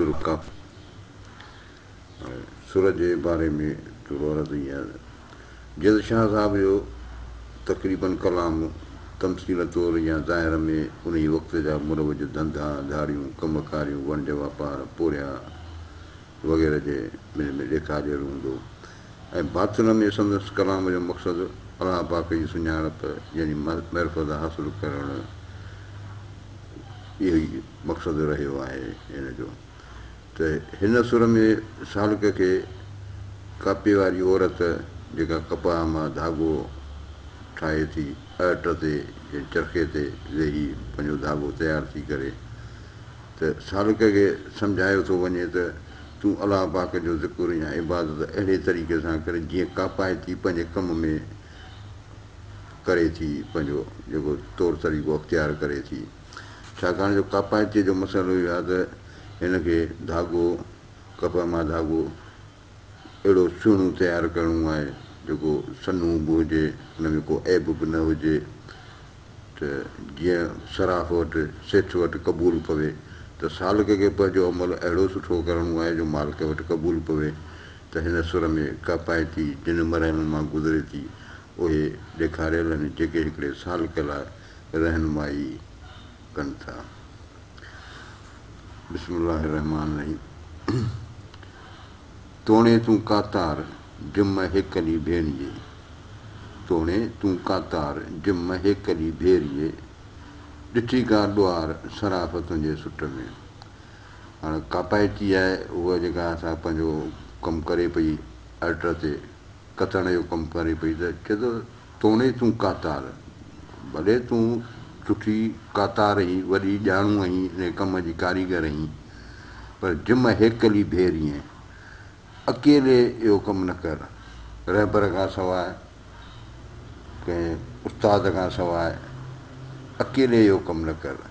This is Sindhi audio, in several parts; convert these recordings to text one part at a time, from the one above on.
رڪاب ۽ سر جي باري ۾ ٿورو عرض هي آهي جيئن شاهه صاحب جو تقريباً ڪلام تمثيل طور يا ظاهر ۾ انهي وقت جا مروج ڌنڌا ڌاڙيون ڪم ڪاريون ونڊ واپار پورهيا وغيره جي ملي ۾ ڏيکارجيل هوندو ۽ باطن ۾ سندس ڪلام جو مقصد الله پاڪ جي سڃاڻپ يعني معرفت حاصل ڪرڻ اهو ئي مقصد رهيو آهي هن جو ته هن سر ۾ سالڪ کي ڪاپي واري عورت جيڪا ڪپاهه مان ڌاڳو ٺاهي ٿي اهٽ تي يا چرخي تي ويهي پنهنجو ڌاڳو تيار ٿي ڪري ته سالڪ کي سمجهايو ٿو وڃي ته تون الله پاڪ جو ذڪر يا عبادت اهڙي طريقي سان ڪر جيئن ڪاپائتي پنهنجي ڪم ۾ ڪري ٿي پنهنجو جيڪو طور طريقو اختيار ڪري ٿي ڇاڪاڻ جو ڪاپائتي جو مسئلو اهو آهي ته هن کي ڌاڳو ڪپهه مان ڌاڳو اهڙو سهڻو تيار ڪرڻو آهي جيڪو سنهو به هجي ان ۾ ڪو عيب به نه هجي ته جيئن صراف وٽ، سيٺ وٽ، قبول پوي ته سالڪ کي پنهنجو عمل اهڙو سٺو ڪرڻو آهي جو مالڪ وٽ قبول پوي ته هن سر ۾ ڪا پائتي جن مرحلن مان گذري ٿي اهي ڏيکاريل آهن جيڪي هڪڙي سالڪ لاء رهنمائي ڪن ٿا. بسم الله الرحمٰن الرحيم. توڻي تون ڪاتار جم هيڪلي ڀيريي توڻي تون ڪاتار جم هيڪلي ڀيريي ڏٺي ڪا ڏوار صراف تنهنجي سٽ ۾. هاڻ ڪاپائتي آهي اها جيڪا سا پنهنجو ڪم ڪري پئي الٽر تي. ڪتڻ جو ڪم ڪري پئي ته چئي ٿو توڻي تون ڪاتار، ڀلي تون سٺي ڪاتار هين، وڏي ڄاڻو هين، انهي ڪم جي ڪاريگر هين، پر جم هيڪلي ڀيرينء، اڪيلي اهو ڪم نه ڪر، رهبر کان سواء، ڪنهن استاد کان سواء، اڪيلي اهو ڪم نه ڪر.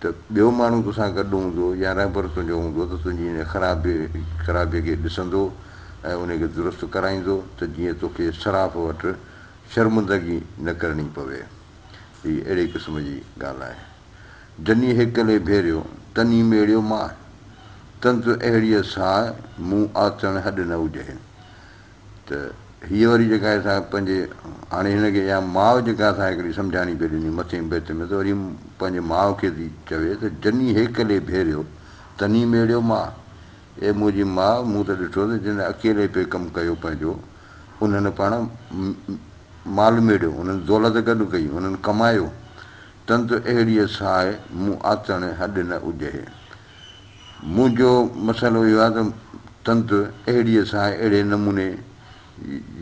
ته ٻيو ماڻهو تو سان گڏ هوندو يا رهبر تنهنجو هوندو ته تنهنجي انهيء خرابي خرابيء کي ڏسندو ۽ انهيء کي درست ڪرائيندو ته جيئن توکي صراف وٽ شرمندگي نه ڪرڻي پوي. هيء اهڙي قسم جي ڳالهه آهي. جني هيڪلي ڀيريو، تني ميڙيو ماهه. تنت اهڙيء ساهه، مون آتڻ هڏ نه اجهين. ته هيء وري جيڪا اسان پنهنجي هاڻي هن کي اها ماء جيڪا اسان هڪڙي سمجهاڻي پئي ڏني مٿين بيت ۾ ته وري پنهنجي ماء کي ٿي چوي ته جني هيڪلي ڀيريو تني ميڙيو ماء اي منهنجي ماء مون ته ڏٺو ته جن اڪيلي پئي ڪم ڪيو پنهنجو انهن پاڻ مال ميڙيو انهن دولت گڏ ڪئي انهن ڪمايو تن ته اهڙيء ساهي مون آتڻ هڏ نه اجهي منهنجو مسئلو اهو آهي ته تند اهڙيء سان اهڙي نموني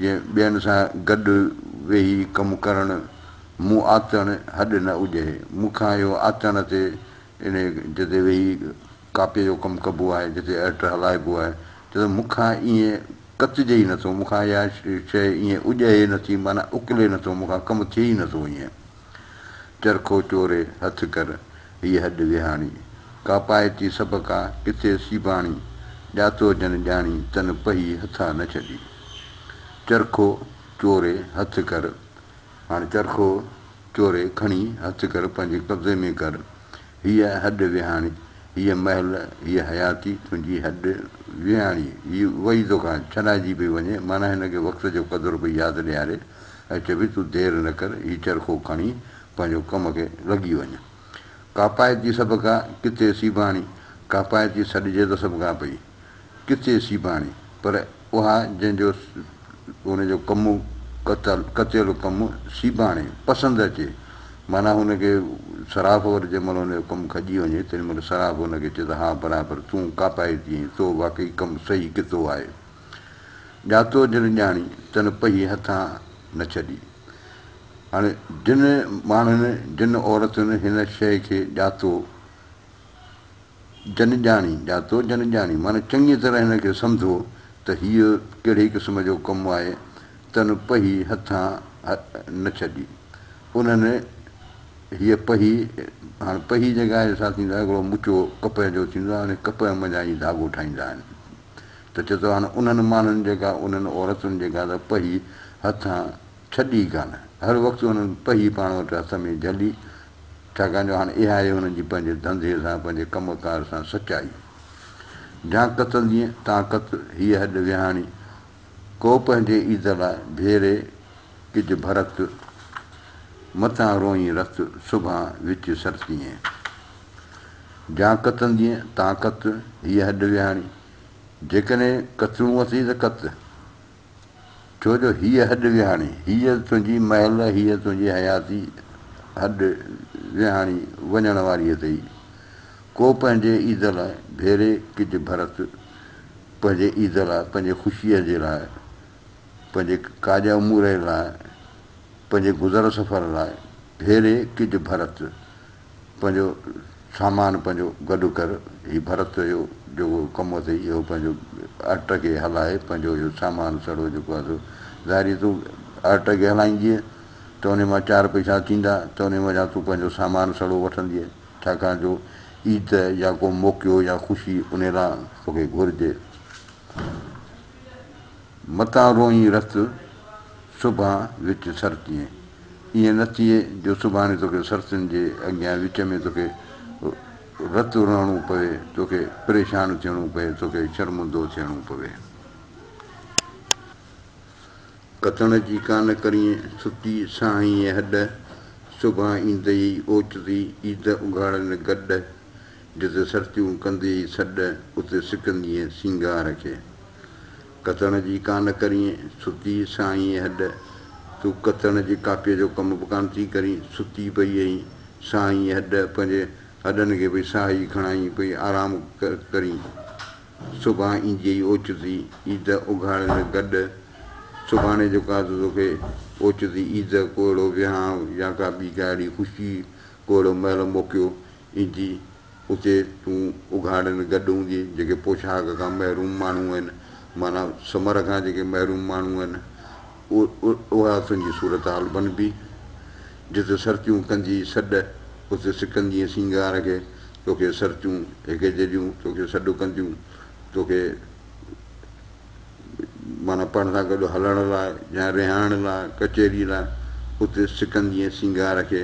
جيئن ٻين سان گڏ ويهي ڪم ڪرڻ مون آتڻ هڏ نه اجهي. مون کان اهو آتڻ تي انهيء جتي ويهي ڪاپيء جو ڪم ڪبو آهي، جتي ارٽ هلائبو آهي، تتي مون کان ائين ڪتجي ئي نٿو، مون کان اها شيء ائين اجهي نٿي، معنيٰ اڪلي نٿو، مون کان ڪم ٿئي ئي نٿو ائين. چرخو چوري هٿ ڪر، هيء هڏ ويهاڻي. ڪاپائتي سڀ ڪا، ڪٿي سيباڻي. ڄاتو جن ڄاڻي، تن پهي هٿان نه ڇڏي. چرخو چوري هٿ ڪر، هاڻ چرخو چوري کڻي هٿ ڪر، پنهنجي قبضي ۾ ڪر، هيء هڏ ويهاڻي، هيء مهل، هيء حياتي، تنهنجي هڏ ويهاڻي. هي وئي توکان ڇڏائجي پئي وڃي، معنيٰ هن کي وقت جو قدر پئي ياد ڏياري ۽ چئي پئي، تون دير نه ڪر، هي چرخو کڻي پنهنجو ڪم کي لڳي وڃ. ڪاپائتي سڀ ڪا، ڪٿي سيباڻي، ڪاپائتي سڏجي ته سڀ ڪا پئي. ڪٿي سيباڻي پر اها جنهن جو ان جو ڪم ڪتيل ڪم سيباڻي پسند اچي معنيٰ هن کي صراف ور جنهن مهل ان جو ڪم کڄي وڃي تنهن مهل صراف هن کي چئي ته ها برابر تون ڪاپائي ٿي ۽ تو واقعي ڪم صحيح ڪتو آهي ڄاتو جن ڄاڻي تن پهي هٿان نه ڇڏي هاڻي جن ماڻهن جن عورتن هن شيء کي ڄاتو جن ڄاڻي، ڄاتو جن ڄاڻي، معنيٰ چڱيء طرح هن کي سمجهو ته هيء ڪهڙي قسم جو ڪم آهي، تن پهي هٿان نه ڇڏي. انهن هيء پهي، هاڻ پهي جيڪا آهي سا ٿيندو آهي هڪڙو مچو ڪپهه جو ٿيندو آهي ان ڪپهه منجهان ئي ڌاڳو ٺاهيندا آهن ته چتو هاڻ انهن ماڻهن جيڪا انهن عورتن جيڪا ته پهي هٿان ڇڏي ئي ڪانه. هر وقت هنن پهي پاڻ وٽ هٿ ۾ جهلي، ڇاڪاڻ جو هاڻ اها آهي هنن جي پنهنجي ڌنڌي سان، پنهنجي ڪم ڪار سان سچائي. جان قتلدينء تان قتل، هيء هڏ ويهاڻي، ڪو پنهنجي عيد لاء ڀيري، ڪج ڀرت، متان روئين رت، سڀان وچ سرتينء. جان قتلدينء تان قتل، هيء هڏ ويهاڻي، جيڪڏهن قتلون اٿئي ته قت. ڇو جو هيء هڏ ويهاڻي، هيء تنهنجي محل، هيء تنهنجي حياتي هڏ ويهاڻي وڃڻ واريء تي ئي ڪو پنهنجي عيد لاء ڀيري ڪج ڀرت پنهنجي عيد لاء، پنهنجي خوشيء جي لاء، پنهنجي ڪاڄ امورئي لاء، پنهنجي گذر سفر لاء ڀيري ڪج ڀرت پنهنجو سامان پنهنجو گڏ ڪر. هي ڀرت جو جيڪو ڪم اٿئي اهو پنهنجو ارٽ کي هلائي پنهنجو اهو سامان سڙو جيڪو آهي سو ظاهر جي تون ارٽ کي هلائيندينء ته انهي مان چار پئسا ٿيندا ته انهي وجهان تون پنهنجو سامان سڙو وٺندينء ڇاڪاڻ جو عيد يا ڪو موقعو يا خوشي انهي لا توکي گهرجي. متان روئين رت سڀان وچ سرتينء. ائين نه ٿئي جو سڀاڻي توکي سرتين جي اڳيان وچ ۾ توکي رت رئڻو پوي، توکي پريشان ٿيڻو پئي، توکي شرمندو ٿيڻو پوي. ڪتڻ جي ڪانه ڪرين ستي ساهين اي هڏ، سڀان ايندئي اوچتي عيد اگهاڙين گڏ، جتي سرتيون ڪنديئي سڏ، اتي سڪندينء سينگار کي. ڪتڻ جي ڪا نه ڪرين، ستي سائينء هڏ. تون ڪتڻ جي ڪاپيء جو ڪم به ڪانه ٿي ڪرين، ستي پئي اهين، سائينء هڏ، پنهنجي هڏن کي پئي ساهي کڻائين، پئي آرام ڪرين. صبح اينديئي اوچتي عيد اگهاڙين گڏ. سڀاڻي جو ڪا ته توکي اوچتي عيد، ڪو اهڙو ويهانء يا ڪا ٻي ڪا اهڙي خوشي، ڪو اهڙو مهل موقعو ايندي، اتي تون اگهاڙن گڏ هوندينء، جيڪي پوشاڪ کان محروم ماڻهو آهن، معنيٰ ثمر کان جيڪي محروم ماڻهو آهن، اها تنهنجي صورتحال بنبي. جت سرتيون ڪندينء سڏ، ات سڪندينء سينگار کي، توکي سرتيون هڪجهڙيون توکي سڏ ڪنديون، توکي. معنيٰ پاڻ سان گڏ هلڻ لاء يا رهائڻ لاء، ڪچهري لاء، اتي سڪندي ۽ سينگار کي،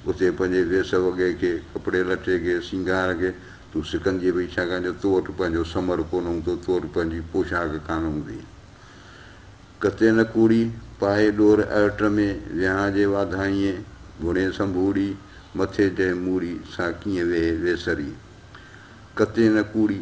اتي پنهنجي ويس وڳي کي، ڪپڙي لٽي کي، سينگار کي، تون سڪنديئي پئي ڇاڪاڻ جو تو وٽ پنهنجو ثمر ڪونه هوندو، تو وٽ پنهنجي پوشاڪ ڪانه هوندي. ڪتي نه ڪوڙي، پائي ڏور ارٽ ۾، ويهان جي واڌائينء، گهڻي سنڀوڙي، مٿي جنهن موڙي، سا ڪيئن ويهي ويسري. ڪتي نه ڪوڙي،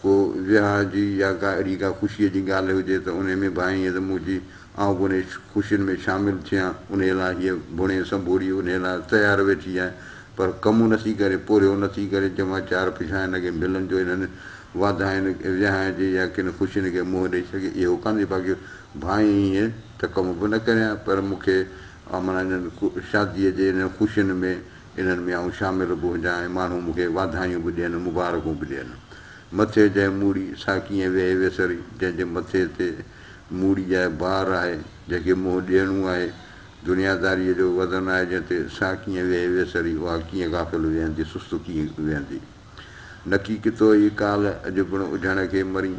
ڪو وياهه جي يا ڪا اهڙي ڪا خوشيء جي ڳالهه هجي ته انهيء ۾ ڀانئين ته مون چي، آئون به انهيء خوشين ۾ شامل ٿيان، انهيء لاء هيء ڀڻي سنڀوڙي انهيء لاء تيار ويٺي آهي، پر ڪمون نٿي ڪري، پورهيو نٿي ڪري، جمع چار پڇا هن کي ملن جو انهن واڌاين، وياهن جي يا ڪن خوشين کي منهن ڏئي سگهي، اهو ڪانهي باقي ڀانئين هينئن ته ڪم به نه ڪريان، پر مون کي معنيٰ انهن شاديء جي انهن خوشين ۾ انهن ۾ آئون شامل به هجان ۽ ماڻهو مون کي واڌايون به ڏين، مبارڪون به ڏين. مٿي جنهن موڙي، سا ڪيئن ويهي ويسري، جنهن جي مٿي تي موڙي جاء بار آهي، جنهن کي منهن ڏيڻو آهي، دنياداريء جو وزن آهي جنهن تي، سا ڪيئن ويهي ويسري، اها ڪيئن غافل ويهندي، سست ٿي ويهندي. نڪي ڪتو اي ڪالهه، اڄ پڻ اجهڻ کي مرين،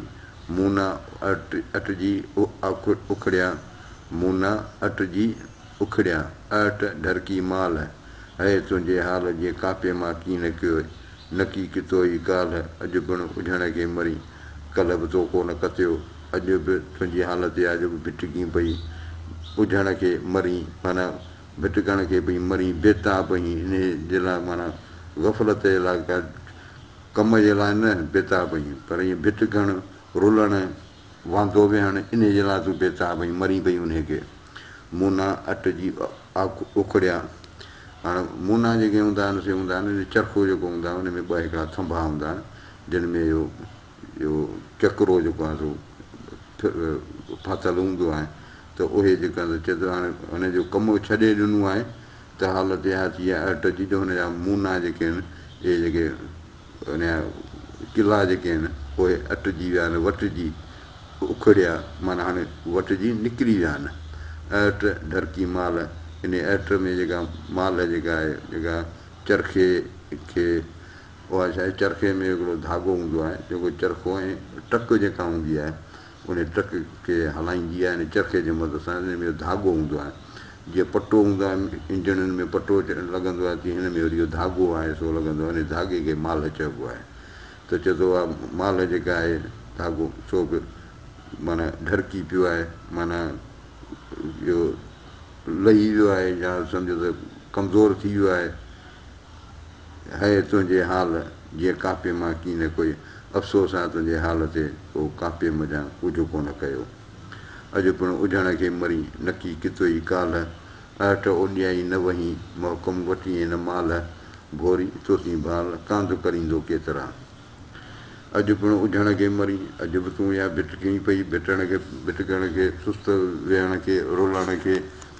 مون نه اٽجي اکڙيان، مون نه اٽجي اکڙيا اهٽ ڍرڪي مال، هيء تنهنجي حال جي ڪاپي مان ڪين نڪيوء، نڪي ڪتوئي ڪالهه، اڄ پڻ اجهڻ کي مرين، ڪلهه به تو ڪو نه ڪتيو، اڄ به تنهنجي حالت اها جو ڀٽڪين پئي، اجهڻ کي مرين معنيٰ ڀٽڪڻ کي پئي مرين، بيتاب اهين انهيء جي لاء معنيٰ غفلت جي لاء ڪا ڪم جي لاء نه بيتاب اهين، پر ائين ڀٽڪڻ، رلڻ، واندو ويهڻ انهيء جي لاء تون بيتاب اهين، مرين پئي انهيء کي. مونا اٽ جي اکڙيا هاڻ مونا جيڪي هوندا آهن سي هوندا آهن ان چرخو جيڪو هوندا آهن ان ۾ ٻه هڪڙا ٿنڀا هوندا آهن جن ۾ اهو اهو چڪرو جيڪو آهي سو ڦاٿل هوندو آهي ته اهي جيڪا آهن سو چئي ٿو هاڻي هن جو ڪم ڇڏي ڏنو آهي ته حالت اها ٿي آهي اٽ جي جو هن جا مونا جيڪي آهن اهي جيڪي انهيء قلعا جيڪي آهن پوء اٽجي ويا آهن، وٽجي، اکڙيا، معنيٰ هاڻي وٽجي نڪري ويا آهن. اهٽ، ڍرڪي مال، انهيء اهٽ ۾ جيڪا مال جيڪا آهي، جيڪا چرخي کي، اها ڇا آهي، چرخي ۾ هڪڙو ڌاڳو هوندو آهي، جيڪو چرخو ۽ ٽڪ جيڪا هوندي آهي، ان ٽرڪ کي هلائيندي آهي ان چرخي جي مدد سان ان ۾ اهو ڌاڳو هوندو آهي جيئن پٽو هوندو آهي انجڻن ۾ پٽو لڳندو آهي تيئن هن ۾ وري اهو ڌاڳو آهي سو لڳندو آهي ان ڌاڳي کي مالهه چئبو آهي ته چئي ٿو اها مالهه جيڪا آهي ڌاڳو سو به معنيٰ ڍرڪي پيو آهي معنيٰ اهو لهي ويو آهي يا سمجهو ته ڪمزور ٿي ويو آهي هيء تنهنجي حال جيء ڪاپي مان ڪي نه ڪوئي افسوس آء تنهنجي حال تي ڪو ڪاپي منجهان ڪجهه ڪو نه ڪيو اڄ پڻ اجهڻ کي مرين نڪي ڪتوئي ڪالهه اهٽ اوڏيائي نه وهين محڪم وٽيين نه مالهه ڀوري توتين ڀال ڪانڌ ڪريندو ڪيترا اڄ پڻ اجهڻ کي مرين اڄ به تون اها ڀٽ ڪئين پئي ڀٽڻ کي ڀٽڪڻ کي سست ويهڻ کي رولڻ کي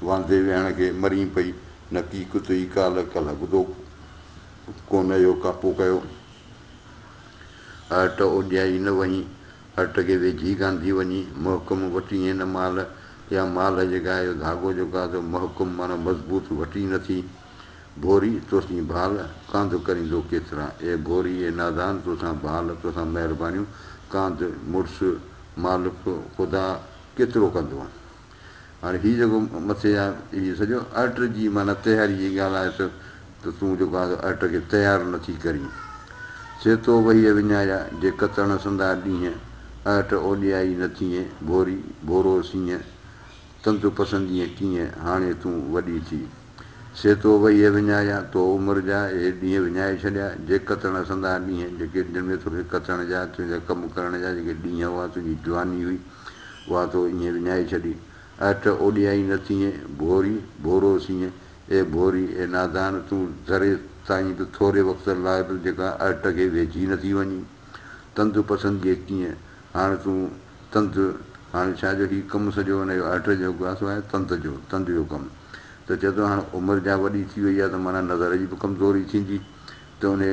واندي ويهڻ کي مرين پئي نڪي ڪتئي ڪالهه ڪالهه ٻڌو ڪونه اهو ڪاپو ڪيو اهٽ اوڏيائي نه وهين اهٽ کي ويجهي گانڌي وڃي محڪم وٽي هين مال يا مالهه جيڪا اهو ڌاڳو جيڪو آهي سو محڪم معنيٰ مضبوط وٽي نه ٿي ڀوري توسين ڀال ڪانڌ ڪريندو ڪيترا اي ڀوري اي نادان توسان ڀال توسان مهربانيون ڪانڌ مڙس مالڪ خدا ڪيترو ڪندو هاڻي هي جيڪو مٿي يا هي سڄو ارٽ جي معنيٰ تياري جي ڳالهه آهي ته ته تون جيڪو آهي سو ارٽ کي تيار نه ٿي ڪرين. سي تو وهيء وڃايا، جي ڪتڻ سندا ڏينهن، ارٽ اوڏيائي نه ٿينء، ڀوري، ڀورو سينء، تند پسندينء ڪينء، هاڻي تون وڏي ٿي. سي تو وهيء وڃايا، تو عمر جا اهي ڏينهن وڃائي ڇڏيا، جي ڪتڻ سندا ڏينهن، جيڪي جن ۾ توکي ڪتڻ جا، تنهنجا ڪم ڪرڻ جا جيڪي ڏينهن هئا، تنهنجي جواني هئي، اها تو ايئن وڃائي ڇڏي، اهٽ اوڏيائين نه ٿيئين، ڀوري، ڀورو سيئن، اي ڀوري، اي نادان، تون ذري تائين به ٿوري وقت لاء به جيڪا اهٽ کي ويجهي نه ٿي وڃين. تند پسند جي ڪيئن، هاڻ تون تند، هاڻ ڇا جو هي ڪم سڄو ان جو اهٽ جو ڪو سواء تند جو، تند جو ڪم. ته چئه ٿو هاڻ عمر جا وڏي ٿي وئي آ ته معنيٰ نظر جي به ڪمزوري ٿيندي ته انهي.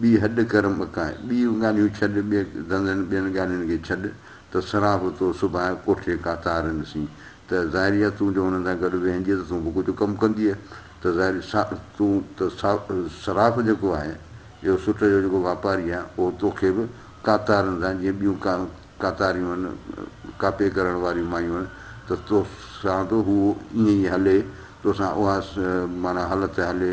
ٻي هڏ ڪر مڪاء، ٻيء ڳالهيون ڇڏ، ٻئي ڌنڌن ٻين ڳالهين کي ڇڏ، ته سرا به تو سڀاء ڪوٺي ڪاتارين سين، ته ظاهري آ تون جو هنن سان گڏ ويهنجي ته تون به ڪجهه ڪم ڪنديء، ته ظاهري سا تون ته سا صراف جيڪو آهي، اهو سٽ جو جيڪو واپاري آهي، اهو تو کي به ڪاتارين سان جيئن ٻيون ڪا ڪاتاريون هن، ڪاپي ڪرڻ واريون مايون هن، ته تو سان به هو ائين ئي هلي، تو سان اها معنيٰ هلت هلي،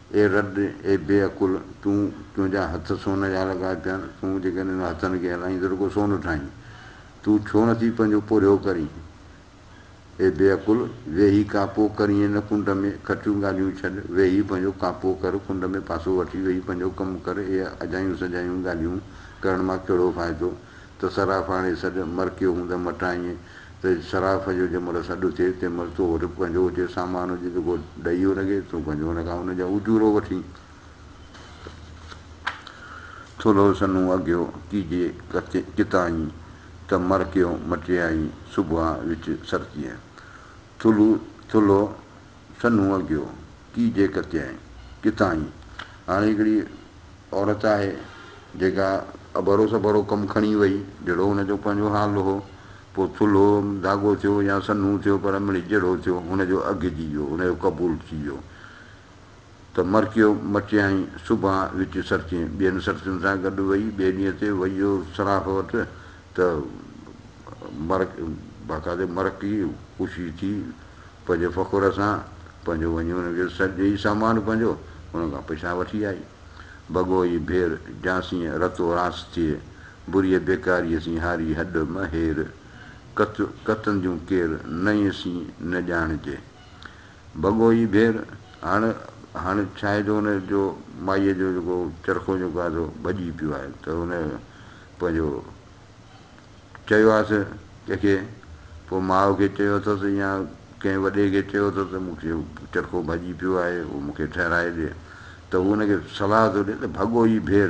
اي رڍ، اي بي عقل، تون، تنهنجا هٿ سون جا لڳا پيا آهن، تون جيڪڏهن انهن هٿن کي هلائين ته رڳو سون ٺاهين. تون ڇو نٿي پنهنجو پورهيو ڪرين؟ اي بي عقل، ويهي ڪاپو ڪر ائين نه ڪنڊ ۾، کٽيون ڳالهيون ڇڏ، ويهي پنهنجو ڪاپو ڪر، ڪنڊ ۾ پاسو وٺي ويهي پنهنجو ڪم ڪر، اهي اجايون سجايون ڳالهيون ڪرڻ مان ڪهڙو فائدو؟ ته صراف آڻي سڏ، مرڪيو هوندم مٽائينء ته صراف جو جنهن مهل سڏ ٿئي، تنهن مهل تو وٽ به ڪنجهو هجي، سامان هجي ته ڪو ڏيئو لڳي، تون ڪنجهو هن کان ان جا اجورو وٺين. ٿلهو سنهون اگهيو ڪيجي ڪتائين، ته مرڪيو مٽيائين سوڀان وچ سرتيء. ٿلهو ٿلهو سنهو اگهيو، ڪي جي ڪتيائين، ڪٿان هي؟ هاڻي هڪڙي عورت آهي، جيڪا اڀرو سڀرو ڪم کڻي وئي، جهڙو هن جو پنهنجو حال هو، پوء ٿلهو ڌاڳو ٿيو يا سنهو ٿيو، پر مڙئي جهڙو ٿيو، هن جو اگهجي ويو، هن جو قبول ٿي ويو. ته مرڪيو مچيائين، صبح وچ سرتين ٻين سرتين سان گڏ وئي، ٻئي ڏينهن تي ويو صراف وٽ ته مرڪ باقاعدي مرڪي خوشي ٿي پنهنجي فخر سان پنهنجو وڃي ان کي سڏ ڏئي سامان پنهنجو ان کان پئسا وٺي آئي. بگو اي ڀير جانسين رتو رانس ٿئي، بريء بيڪاريء سين هاري هڏ م هير، ڪت ڪتن جون ڪير نئين سين نه ڄاڻجي. ڀڳو ئي ڀير، هاڻ هاڻ ڇاهي جو ان جو مائيء جو جيڪو چرخو جيڪو آهي سو ڀڄي پيو آهي ته ان پنهنجو چيو آهيس ڪنهن کي پوء ماء کي چيو اٿس يا ڪنهن وڏي کي چيو اٿس ته مون کي چرخو ڀڄي پيو آهي اهو مون کي ٺهرائي ڏي ته هو ان کي صلاح ٿو ڏي ته ڀڳو ئي ڀير،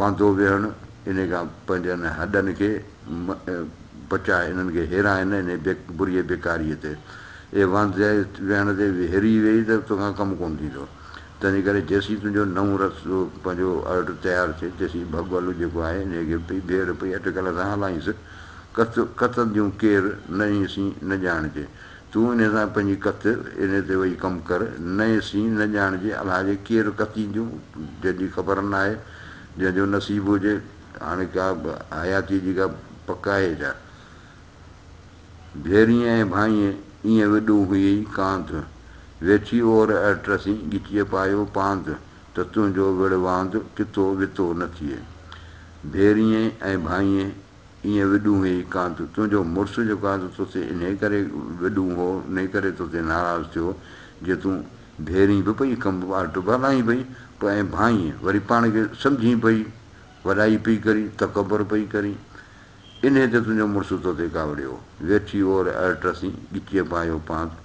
واندو ويهڻ انهي کان پنهنجي انهن هڏن کي بچاء انهن کي هيرائي نه انهي بريء بيڪاريء تي اي واندي ويهڻ تي ويهري ويهي ته تو کان ڪم ڪونه ٿيندو تنهنجي ڪري جيسين تنهنجو نئون رت پنهنجو ارڙ تيار ٿئي تيسين ڀڳل جيڪو آهي انهي کي پئي ڀيڙ پئي اٽڪل سان هلائينس ڪت ڪتنديون ڪير نه انهي سين نه ڄاڻجي تون انهيء سان پنهنجي ڪت انهيء تي وئي ڪم ڪر، نئين سين نه ڄاڻجي، الها جي ڪير ڪتين جون، جنهن جي خبر ناهي، جنهن جو نصيب هجي، هاڻي ڪا به حياتيء جي ڪا پڪ آهي ڇا؟ ڀيرينء ۽ ڀائينء ايئن وڏون هيئي ڪانڌ، ويٺي اور اڙ ٽسين ڳچيء پايو پانڌ، ته تنهنجو وڙهواند ڪتو وتو نه ٿئي. ڀيرينء ۽ ڀائينء ايئن وڏون هي ڪان ٿو تنهنجو مڙس جو ڪان ٿو توسين انهي ڪري وڏون هو انهي ڪري توسين ناراض ٿيو جو تون ڀيرين به پئي کنڀ ٻاهر ٽبا لاهين پئي پوء ائين ڀانئين وري پاڻ کي سمجهين پئي وڏائي پئي ڪرين تڪبر پئي ڪرين انهي تي تنهنجو مڙس توتي ڪاوڙيو ويٺي اور ارٽ رسين ڳچيء پايو پانت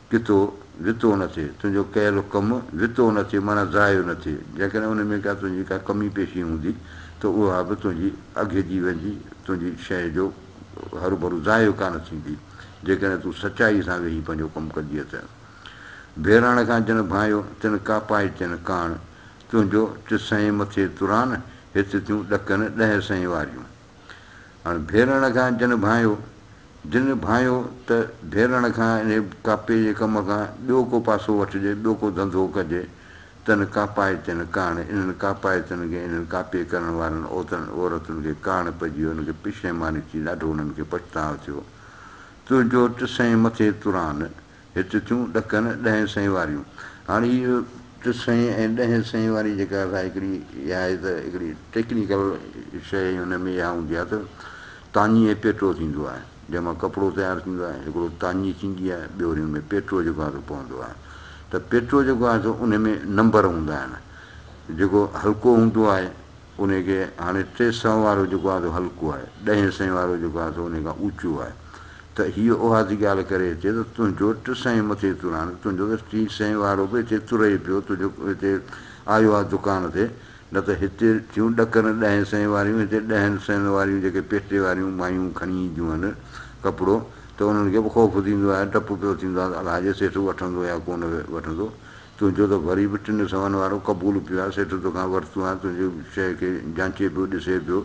ڪتو، وتو نه ٿئي، تنهنجو ڪيل ڪم وتو نه ٿئي معنيٰ ضايع نه ٿئي، جيڪڏهن ان ۾ ڪا تنهنجي ڪا ڪمي پيشي هوندي ته اها به تنهنجي اگهجي ويندي، تنهنجي شيء جو هروڀرو ضايع ڪانه ٿيندي، جيڪڏهن تون سچائيء سان ويهي پنهنجو ڪم ڪندينء ته. بهراڻ کان جن ڀانئيو، تن ڪاپائي تين ڪاڻ، تنهنجو ٽسهين مٿي تران، هت ٿيون ڏڪن ڏهه سئين واريون. هن ڀيرڻ کان جن ڀانئيو، جن ڀانئيو ته ڀيرڻ کان انهيء ڪاپي جي ڪم کان ٻيو ڪو پاسو وٺجي، ٻيو ڪو ڌنڌو ڪجي، تن ڪاپائتين ڪاڻ انهن ڪاپائتن کي، انهن ڪاپي ڪرڻ وارن اوتن عورتن کي ڪاڻ پئجي ويو، انهن کي پشيماني ٿي، ڏاڍو انهن کي پڇتاء ٿيو. تنهنجو ٽسئين مٿي تران، هت ٿيون ڏکن ڏهين سئين واريون. هاڻي هي جو ٽي سئين ۽ ڏهين سئين واري جيڪا اسان هڪڙي اها آهي ته هڪڙي ٽيڪنيڪل شيء هن ۾ اها هوندي آهي ته تاڃي ۽ پيٽرو ٿيندو آهي جنهن مان ڪپڙو تيار ٿيندو آهي هڪڙو تاڃي ٿيندي آهي ٻيو وري ان ۾ پيٽرو جيڪو آهي سو پوندو آهي ته پيٽرو جيڪو آهي سو ان ۾ نمبر هوندا آهن جيڪو هلڪو هوندو آهي انهي کي هاڻي ٽي سئو وارو جيڪو آهي سو هلڪو آهي، ڏهين سئين وارو جيڪو آهي سو انهي کان اوچو آهي ته هيء اها ٿي ڳالهه ڪري اچي ته تنهنجو ٽه سئين مٿي تر هاڻي تنهنجو ته ٽي سئين وارو به هتي تر ئي پيو تنهنجو هتي آيو آهي دڪان تي نه ته هتي ٿيون ڏڪر ڏهين سئين واريون هتي ڏهن سئين واريون جيڪي پيٽي واريون مايون کڻي اينديون آهن ڪپڙو ته انهن کي به خوف ٿيندو آهي ڊپ پيو ٿيندو آهي ته الاجي سيٺ وٺندو يا ڪونه وٺندو تنهنجو ته وري به ٽن سون وارو قبول پيو آهي، سيٺ توکان ورتو آهي، تنهنجي شيء کي جانچي پيو ڏسي پيو،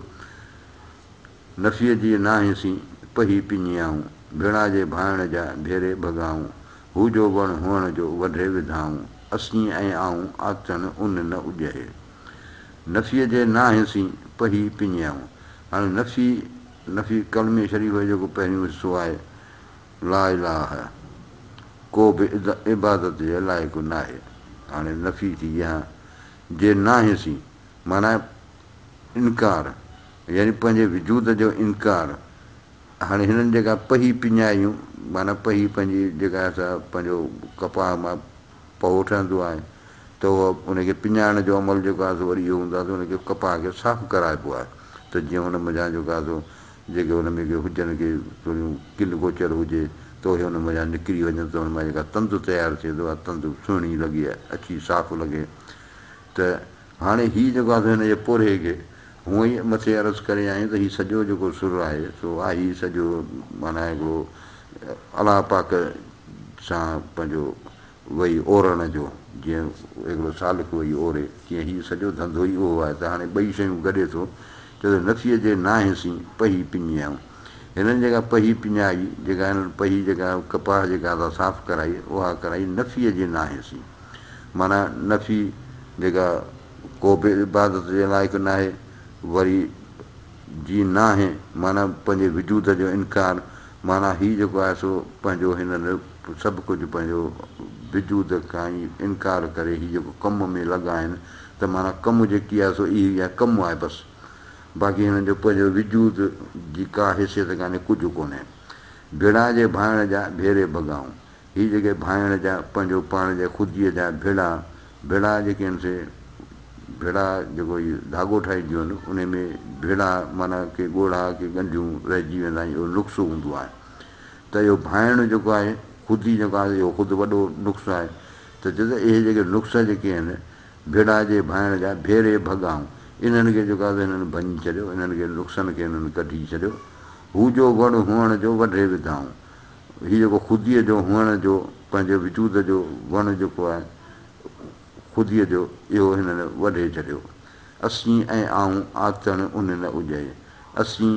نفيء جي ناهين سين پهي پڃيائون، ڀيڻا جي ڀانئڻ جا ڀيري ڀڳائون، هو جو وڻ هئڻ جو وڍي وڌائون، اسين ۽ آئون آتڻ ان نه اجهي، نفيء جي ناهين سين پهي پڃيائون، هاڻي نفي نفي ڪلمي شريف جو جيڪو پهريون حصو آهي، لا اله ڪو به عبادت جي لائق ناهي هاڻي نفي ٿي يا جي ناهي سي معنيٰ انڪار يعني پنهنجي وجود جو انڪار هاڻي هنن جيڪا پهي پڃايون معنيٰ پهي پنهنجي جيڪا سا پنهنجو ڪپاهه مان پهو ٺهندو آهي ته اهو ان کي پڃائڻ جو عمل جيڪو آهي سو وري اهو هوندو آهي ته ان کي ڪپاهه کي صاف ڪرائبو آهي ته جيئن هن منجهان جيڪو آهي سو جيڪي ان ۾ ڪي هجن ڪي ٿوريون ڪن گوچر هجي ته اهي ان منجهان نڪري وڃن ته ان مان جيڪا تند تيار ٿئي ته اها تند سهڻي لڳي اڇي صاف لڳي ته هاڻي هي جيڪو آهي سو هن جي پورهئي کي هونء ئي مٿي عرض ڪري آيون ته هي سڄو جيڪو سر آهي سو آهي سڄو معنيٰ هڪڙو الله پاڪ سان پنهنجو وئي اورڻ جو، جيئن هڪڙو سالڪ وئي اوري، تيئن هيء سڄو ڌنڌو ئي اهو آهي ته هاڻي ٻئي شيون گڏي ٿو چئو ته نٿي اچي، ناهين سين پهي پڃيائون. هنن جيڪا پهي پڃائي، جيڪا هنن پهي جيڪا ڪپاهه جيڪا اسان صاف ڪرائي، اها ڪرائي نفيء جي ناهين سين. معنيٰ نفي جيڪا ڪو به عبادت جي لائق ناهي، وري جي ناهين معنيٰ پنهنجي وجود جو انڪار معنيٰ هي جيڪو آهي سو پنهنجو هن سڀ ڪجهه پنهنجو وجود کان ئي انڪار ڪري هي جيڪو ڪم ۾ لڳا آهن ته معنيٰ ڪم جيڪي آهي سو اهي ئي آهي ڪم آهي بس باقي هنن جو پنهنجو وجود جي ڪا حيثيت ڪانهي ڪجهه ڪونهي. ڀيڙا جي ڀانئڻ جا ڀيري ڀڳائون هي جيڪي ڀانئڻ جا پنهنجو پاڻ جا خوديء جا ڀيڙا ڀيڙا جيڪي آهن سي ڀيڙا جيڪو هي ڌاڳو ٺاهينديون آهن انهي ۾ ڀيڙا معنيٰ ڪي ڳوڙها ڪي ڳنڍيون رهجي ويندا آهن اهو نقصو هوندو آهي ته اهو ڀانئڻ جيڪو آهي خودي جيڪو آهي اهو خود وڏو نقص آهي ته چئي ته اهي جيڪي نقص جيڪي آهن ڀيڙا جي ڀانئڻ جا ڀيري ڀڳائون انهن کي جيڪو آهي هنن ڀڃي ڇڏيو انهن کي نقصن کي هنن ڪڍي ڇڏيو هو جو وڻ هئڻ جو وڍي وڌائون. هي جيڪو خوديء جو هئڻ جو پنهنجي وجود جو وڻ جيڪو آهي خوديء جو اهو هنن وڍي ڇڏيو. اسين ۽ آئون آتڻ ان نه اجهي. اسين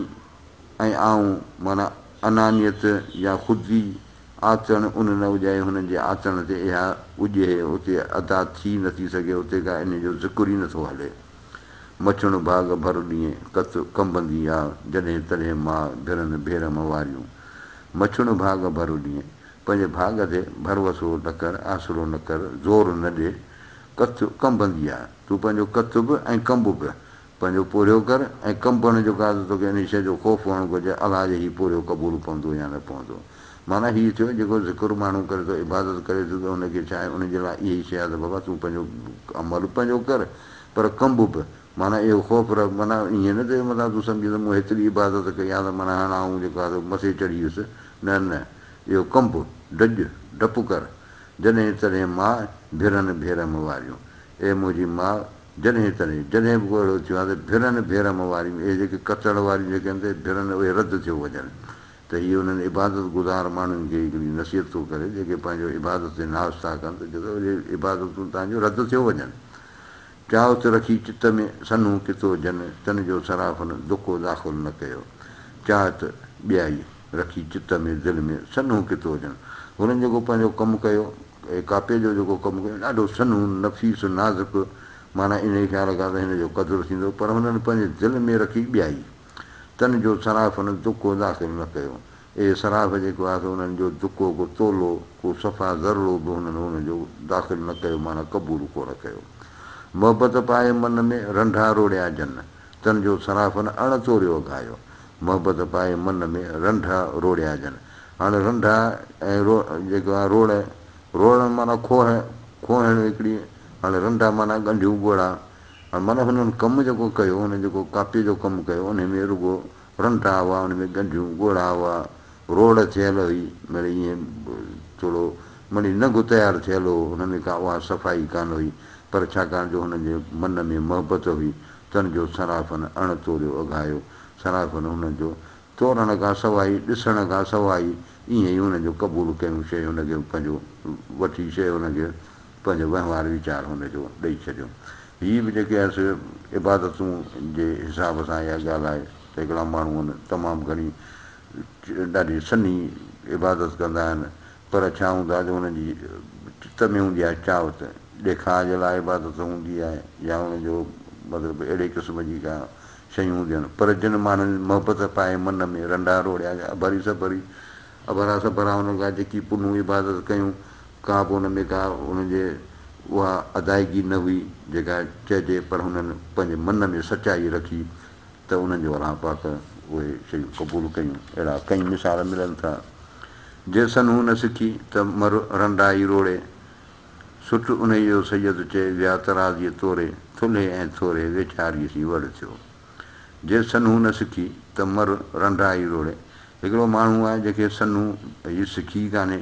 ۽ آئون معنيٰ انانيت يا خودي آتڻ ان نه اجهي هنن جي آتڻ تي اها اجهي اتي ادا ٿي نه ٿي سگهي اتي ڪا ان جو ذڪر ئي نه ٿو هلي. مچڻ ڀاڳ ڀر ڏينهن ڪت ڪنبندي آ، جڏهن تڏهن ماء ڀرن ڀير مئواريون. مچڻ ڀاڳ ڀر ڏينهن، پنهنجي ڀاڳ تي ڀروسو نه ڪر، آسرو نه ڪر، زور نه ڏي، ڪت ڪنبندي آ، تون پنهنجو ڪت به ۽ ڪنب به پنهنجو پورهيو ڪر ۽ ڪنبڻ جو ڪا ته توکي انهيء شيء جو خوف هئڻ گهرجي، الا جي هي پورهيو قبول پوندو يا نه پوندو. معنيٰ هيء ٿيو، جيڪو ذڪر ماڻهو ڪري ٿو، عبادت ڪري ٿو ته ان کي ڇا آهي، ان جي لاء اهي ئي شيء آ ته بابا تون پنهنجو عمل پنهنجو ڪر، پر ڪنب به، معنيٰ اهو خوف رهيو، معنيٰ ائين نه ته متان تون سمجهين ته مون هيتري عبادت ڪئي يا ته معنيٰ هاڻ آئون جيڪو آهي سو مٿي چڙهي ويس، نه نه، اهو ڪنب، ڊڄ، ڊپ ڪر، جڏهن تڏهن ماء، ڀيرن ڀيرم واريون، اي منهنجي ماء، جڏهن تڏهن، جڏهن به ڪو اهڙو ٿيو آهي ته ڀيرن ڀيرم واريون، اهي جيڪي ڪتڻ واريون جيڪي آهن ته ڀيرن اهي رد ٿيو وڃن، ته هيء انهن عبادت گذار ماڻهن کي هڪڙي نصيحت ٿو ڪري، جيڪي پنهنجو عبادت تي ناز ٿا ڪن ته جتي اهي عبادتون توهان جون رد ٿيو وڃن. چاهو ته رکي چت ۾، سنهون ڪتو جن، تن جو سرافن، دڪو داخل نه ڪيو. چاهه ته ٻيائي، رکي چت ۾، دل ۾، سنهون ڪتو جن. هنن جيڪو پنهنجو ڪم ڪيو، اي ڪاپي جو جيڪو ڪم ڪيو، ڏاڍو سنهون، نفيس، نازڪ، معنيٰ انهيء خيال کان ته هن جو قدر ٿيندو، پر هنن پنهنجي دل ۾ رکي ٻيائي. تن جو صرافن دڪو داخل نه ڪيو. اهي صراف جيڪو آهي سو انهن جو دڪو ڪو تولو، ڪو صفا ذرڙو به هنن هن جو داخل نه ڪيو معنيٰ قبول ڪو نه ڪيو. محبت پائي من ۾ رنڍا روڙيا جن، تن جو صرافن اڻ توريو اگهايو. محبت پائي من ۾ رنڍا روڙيا جن. هاڻي رنڍا ۽ رو جيڪو آهي روڙ، روڙڻ معنيٰ کوهه، کوهڻ هڪڙي، هاڻي رنڍا معنيٰ ڳنڍيون ڳوڙها. پر مطلب هنن ڪم جيڪو ڪيو، هنن جيڪو ڪاپيء جو ڪم ڪيو، انهيء ۾ رڳو رنڊا هئا، ان ۾ ڳنڍيون، ڳوڙها هئا، روڙ ٿيل هئي، مڙئي ائين ٿورو مڙئي ننگ تيار ٿيل هو، هن ۾ ڪا اها صفائي ڪانه هئي، پر ڇاڪاڻ جو هنن جي من ۾ محبت هئي، تن جو صرافن اڻ توريو اگهايو، صرافن هنن جو تورڻ کان سواء ئي، ڏسڻ کان سواء ئي، ائين ئي هنن جو قبول ڪيون، شيء هن کي پنهنجو وٺي، شيء هن کي پنهنجو وهنوار ويچار هن جو ڏئي ڇڏيو. هي به جيڪي آهي سي عبادتون جي حساب سان اها ڳالهه آهي ته هڪڙا ماڻهو آهن تمام گهڻي ڏاڍي سنهي عبادت ڪندا آهن پر ڇا هوند آهي جو انهن جي چت ۾ هوندي آهي چاهت ڏيکاء جي لاء عبادت هوندي آهي يا انهن جو مطلب اهڙي قسم جي ڪا شيون هونديون آهن پر جن ماڻهن محبت پائي من ۾ رنڊا روڙيا يا اڀري سڀري اڀرا سڀرا انهن کان جيڪي پنهون عبادت ڪيون ڪا به ان ۾ ڪا انهن جي اها ادائگي نه هئي جيڪا چئجي پر هنن پنهنجي من ۾ سچائي رکي ته انهن جو الله پاڪ اهي شيون قبول ڪيون اهڙا ڪئين مثال ملن ٿا جيسن هو نه سکي ته مر رنڊائي روڙي سٽ انهي جو سيد چئي ويا ترازي توري ٿلهي ۽ ٿوري ويچاري سين وڙ ٿيو جيسن هو نه سکي ته مر رنڊائي روڙي هڪڙو ماڻهو آهي جنهن کي سنهو هي سکي ئي ڪانهي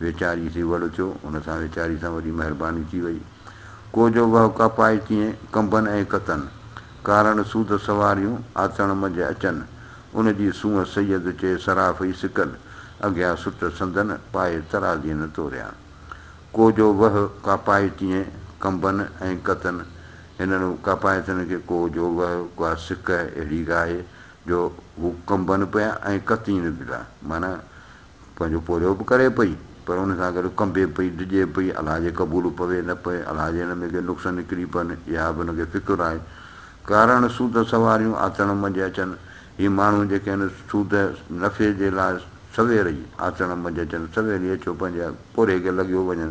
ويچاري سي وڙ اٿيو. ان سان ويچاري سان وڏي مهرباني ٿي وئي. ڪو جو وهه ڪا پائي تيئن ڪنبن ۽ ڪتن. ڪارڻ سود سواريون آتڻ منجهه اچن. ان جي سونهن سيد چئي صراف ئي سڪل اگهيان سٽ سندن پائي ترازين توريان. ڪو جو وهه ڪا پائي تيئن ڪنبن ۽ ڪتن. هنن ڪاپائتن کي ڪو جو وهه ڪا سڪه اهڙي گاهي جو هو ڪنبن پيا ۽ ڪتين به ٿا. معنيٰ پنهنجو پورهيو به ڪري پئي پر ان سان گڏ ڪنبي پئي، ڊڄي پئي، الها جي قبول پوي نه پوي، الها جي هن ۾ ڪي نقص نڪري پون، اها به هن کي فڪر آهي. ڪارڻ سود سواريون آٿڻ منجهه اچن، هي ماڻهو جيڪي هن سود، نفعي، جي لاء سوير ئي آٿڻ منجهه اچن، سوير ئي اچيو پنهنجي پورهيي کي لڳيو وڃن،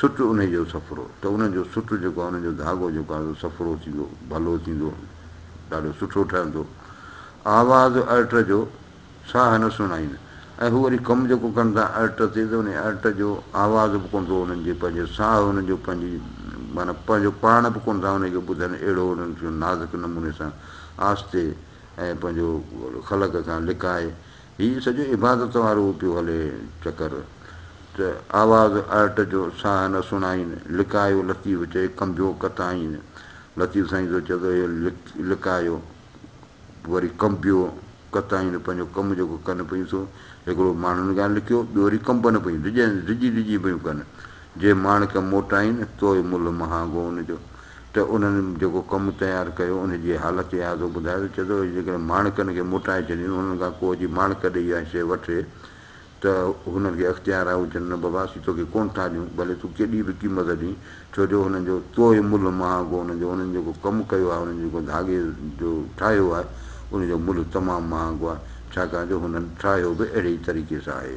سٽ انهي جو سڦرو ته انهن جو سٽ جيڪو آهي انهن جو ڌاڳو جيڪو آهي سو سڦرو ٿيندو ڀلو ٿيندو ڏاڍو سٺو ٺهندو آواز ارٽ جو ساهه نه سڻائين ۽ هو وري ڪم جيڪو ڪن ٿا ارٽ تي ته انهي ارٽ جو آواز به ڪونه ٿو انهن جي پنهنجي ساهه انهن جو پنهنجي معنيٰ پنهنجو پاڻ به ڪونه ٿا انهي کي ٻڌن اهڙو انهن کي نازڪ نموني سان آهستي ۽ پنهنجو خلق کان لڪائي هي سڄو عبادت وارو پيو هلي چڪر ته آواز آرٽ جو ساهه نه سڻائين، لڪايو لطيف چئي ڪنبيو ڪتائين، لطيف سائين ٿو چئي ته اهو لڪايو وري ڪنبيو ڪتائين پنهنجو ڪم جيڪو ڪن پيون سو هڪڙو ماڻهن کان لڪيو ٻيو وري ڪنبن پيون ڊڄي ڊڄي پيون ڪن. جي ماڻڪ موٽائين تو ملهه مهانگو ان جو ته انهن جيڪو ڪم تيار ڪيو ان جي حالت اياضو ٻڌائي ٿو چئي ٿو جيڪڏهن ماڻڪن کي موٽائي ڇڏين انهن کان ڪو جي ماڻڪ ڏئي يا شيء وٺي ته هنن کي اختيار آهي هو چون نه بابا اسين توکي ڪونه ٿا ڏيون ڀلي تون ڪيڏي به قيمت ڏين ڇو جو انهن جو تو ملهه مهانگو ان جو انهن جيڪو ڪم ڪيو آهي انهن جيڪو ڌاڳي جو ٺاهيو آهي ان جو ملهه تمام مهانگو آهي ڇاڪاڻ جو هنن ٺاهيو به اهڙي ئي طريقي سان آهي.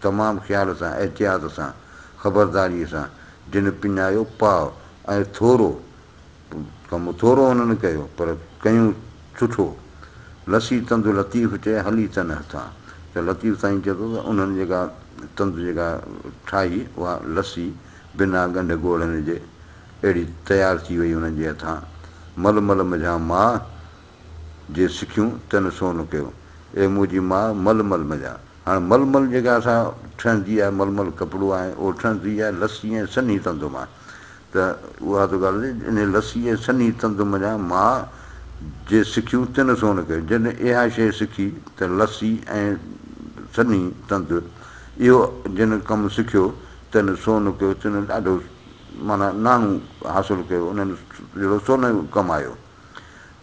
تمام خيال سان، احتياط سان، خبرداريء سان جن پڃايو پاء ۽ ٿورو ڪم ٿورو انهن ڪيو پر ڪيون سٺو. لسي تند لطيف چئي هلي تن هٿان ته لطيف سائين چئي ٿو ته انهن جيڪا تند جيڪا ٺاهي اها لسي بنا ڳنڍ ڳوڙهن جي اهڙي تيار ٿي وئي انهن جي هٿان مل مل مجهان ماء جي سکيون تنھن سون ڪيو. اي منھنجي ماء مل مل مڃاء. ھاڻ مل مل جيڪا اسان ٺھڻ جي آھي مل مل ڪپڙو آھي اھو ٺھڻ جي آھي لسي ۽ سنھي تند مان ته اھا ته ڳالھه ھجي انھي لسي ۽ سنھي تند مڃاء ماء جي سکيون تنھن سون ڪيو جنھن اھا شيء سکي ته لسي ۽ سنھي تند اھو جنھن ڪم سکيو تنھن سون ڪيو تنھن ڏاڍو معنيٰ ناڻو حاصل ڪيو انھن جھڙو سونھو ڪمايو.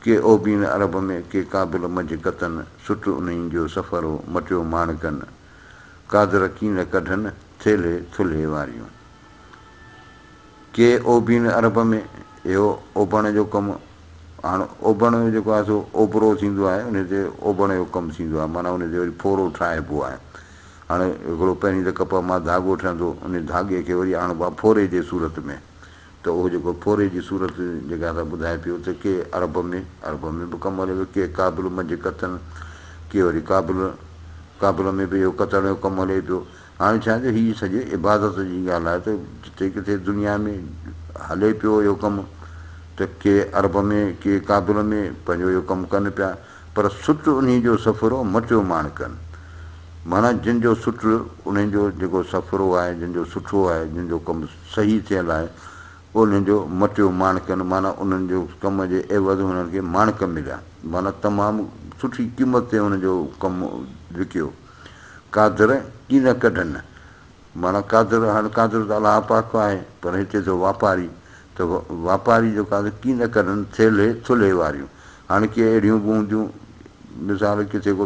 ڪي اوڀين عرب ۾، ڪي ڪابل مجهه ڪتن، سٽ انهين جو سفر هو، مٽيو ماڻڪن، قادر ڪين نه ڪڍن، ٿيلهي ٿلهي واريون. ڪي اوڀين عرب ۾، اهو اوڀڻ جو ڪم، هاڻ اوڀڻ جو جيڪو آهي سو اوڀرو ٿيندو آهي، انهي تي اوڀڻ جو ڪم ٿيندو آهي، معنيٰ انهي تي وري ڦورو ٺاهبو آهي. هاڻ هڪڙو پهرين ته ڪپهه مان ڌاڳو ٺهندو، انهي ڌاڳي کي وري آڻبو آهي ڦوري جي صورت ۾. ته اهو جيڪو ڦوري جي صورت جيڪا اسان ٻڌائي پيو ته ڪي عرب ۾ عرب ۾ به ڪم هلي پيو ڪي ڪابل منجهه ڪتن ڪي وري ڪابل ڪابل ۾ به اهو ڪتڻ جو ڪم هلي پيو هاڻي ڇا جو هي سڄي عبادت جي ڳالهه آهي ته جتي ڪٿي دنيا ۾ هلي پيو اهو ڪم ته ڪي عرب ۾ ڪي ڪابل ۾ پنهنجو اهو ڪم ڪن پيا پر سٽ انهي جو سڦرو مٽيو ماڻ ڪن معنيٰ جن جو سٽ انهن جو جيڪو سڦرو آهي جن جو سٺو آهي جن جو ڪم صحيح ٿيل آهي، اولهين جو مٽيو ماڻڪن معنيٰ انهن جو ڪم جي عيوض هنن کي ماڻڪ مليا معنيٰ تمام سٺي قيمت تي هنن جو ڪم وڪيو. قادر ڪينه ڪڍن معنيٰ قادر هاڻ قادر ته الله پاڪ آهي پر هتي ٿو واپاري ته واپاري جو قادر ڪينه ڪڍن ٿيلهي ٿلهي واريون هاڻ ڪي اهڙيون به هونديون مثال ڪٿي ڪو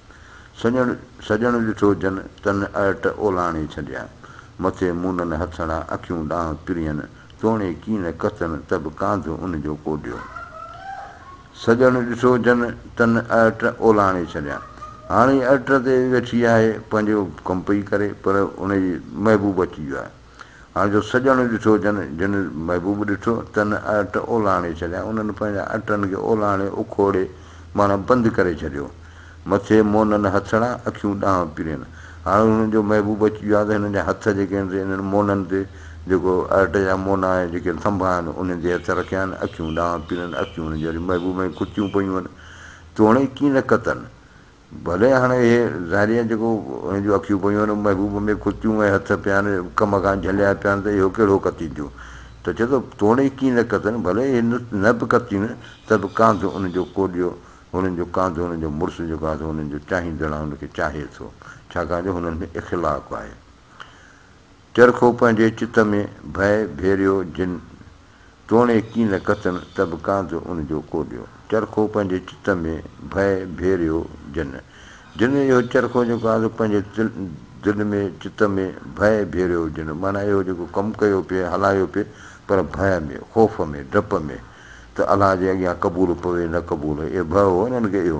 سڄڻ سڄڻ ڏٺو جن، تن ارٽ اولاڻي ڇنڊيان. مٿي مونن هٿڙا، اکيون ڏانهن پرين، توڻي ڪين ڪتن، ته به ڪانڌ ان جو ڪوڏيو. سڄڻ ڏٺو جن، تن ارٽ اولاڻي ڇنڊيان. هاڻي ارٽ تي ويٺي آهي، پنهنجو ڪم پئي ڪري، پر ان جي محبوب اچي ويو آهي. هاڻ جو سڄڻ ڏٺو جن، جن محبوب ڏٺو، تن اهٽ اولاڻي ڇڏيا، انهن پنهنجا اهٽن کي اولاڻي، اکوڙي، معنيٰ بند ڪري ڇڏيو. مٿي مونن هٿڙا، اکيون ڏانهن پرين. هاڻ هنن جو محبوب اچي ويو آهي ته هنن جا هٿ جيڪي آهن سي انهن مونن تي، جيڪو اهٽ جا مونا آهن، جيڪي ٿنڀا آهن، انهن تي هٿ رکيا آهن، اکيون ڏانهن پرين، اکيون هنن جي وري محبوب ۾ ڪتيون پيون آهن، توڻي ڪين ڪتن، ڀلي هاڻ اهي ذريعن جيڪو هن جون اکيون پيون آهن، محبوب ۾ ڪتيون ۽ هٿ پيا آهن، ڪم کان جهليا پيا آهن ته اهو ڪهڙو ڪتينديون؟ ته چئي ٿو، توڻي ڪي نه ڪتن، ڀلي اهي نه به ڪتين ته به ڪانڌ انهن جو ڪوڏيو، هنن جو ڪانڌ هنن جو مڙس جو ڪانڌ هنن جو چاهيندڙ هن کي چاهي ٿو، ڇاڪاڻ جو هنن ۾ اخلاق آهي. چرخو پنهنجي چت ۾ ڀئي ڀيريو جن، توڻي ڪي نه ڪتن ته به ڪانڌ ان جو ڪوڏيو. چرخو پنهنجي چت ۾ ڀئي ڀيريو جن. جن اهو چرخو جيڪو آزو پنهنجي دل ۾ چت ۾ ڀئي ڀيريو جن معنيٰ اهو جيڪو ڪم ڪيو پئي هلايو پئي پر ڀئي ۾ خوف ۾ ڊپ ۾ ته الله جي اڳيان قبول پوي نه قبول اهي ڀئي هو انهن کي اهو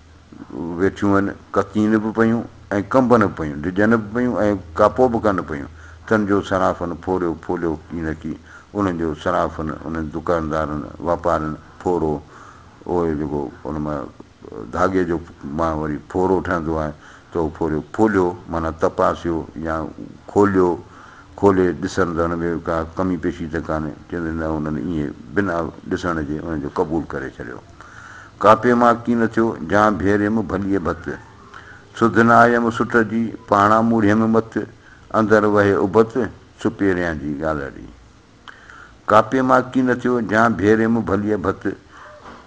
ويٺيون هن، ڪتين به پيون ۽ ڪنبن به پيون، ڊڄن به پيون ۽ ڪاپو به ڪن پيون. تن جو صرافن ڦوريو ڦوليو ئي نه ڪي. انهن جو صرافن، انهن دڪاندارن، واپارين، ڦورو، اهو جيڪو ان مان ڌاڳي جو مان وري ڦورو ٺهندو آهي، ته اهو ڦوريو ڦوليو معنيٰ تپاسيو يا کوليو، کولي ڏسن ته ان ۾ ڪا ڪمي پيشي ته ڪانهي، چيندي نه انهن ائين بنا ڏسڻ جي ان جو قبول ڪري ڇڏيو. ڪاپي مان ڪي نه ٿيو، جان ڀيريم ڀليء ڀت. سڌ نه آيم سٽ جي، پاڻان موڙيم مٿ. اندر وهي ابت، ڇپي رهيان جي ڳالهه ڙي. ڪاپي مان ڪي نه ٿيو، جان ڀيريم ڀليء ڀت.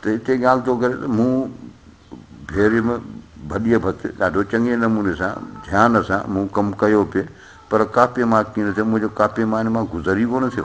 ته اتي ڳالهه ٿو ڪري ته مون ڀيريم ڀليء ڀت، ڏاڍو چڱي نموني سان، ڌيان سان مون ڪم ڪيو پي، پر ڪاپي مان ڪي نه ٿيو، منهنجو ڪاپي مان ان مان گذر ئي ڪونه ٿيو.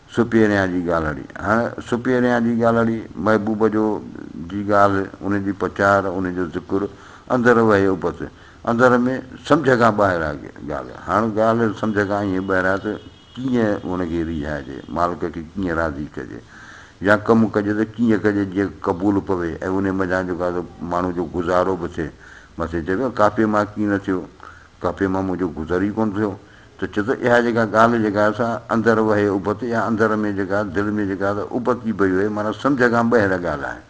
سپيريان جي ڳالهڙي، هاڻ سپيريان جي ڳالهڙي، محبوب جو جي ڳالهه، ان جي پچار، ان جو ذڪر، اندر وهي ابت، اندر ۾ سمجهه کان ٻاهر آ ڳالهه، هاڻ ڳالهه سمجهه کان ائين ٻاهر آ ته ڪيئن ان کي ريجهائجي، مالڪ کي ڪيئن راضي ڪجي يا ڪم ڪجي ته ڪيئن ڪجي جيئن قبول پوي ۽ انهي منجهان جيڪو آ سو ماڻهو جو گذارو به ٿئي، مٿي چئبو آ ڪاپي مان ڪي نه ٿيو، ڪاپي مان منهنجو گذر ئي ڪونه ٿيو، ته چي ته اها جيڪا ڳالهه جيڪا آهي سا اندر وهي ابت يا اندر ۾ جيڪا دل ۾ جيڪا ته ابت جي بهي وهي معنيٰ سمجهه کان ٻهر ڳالهه آهي.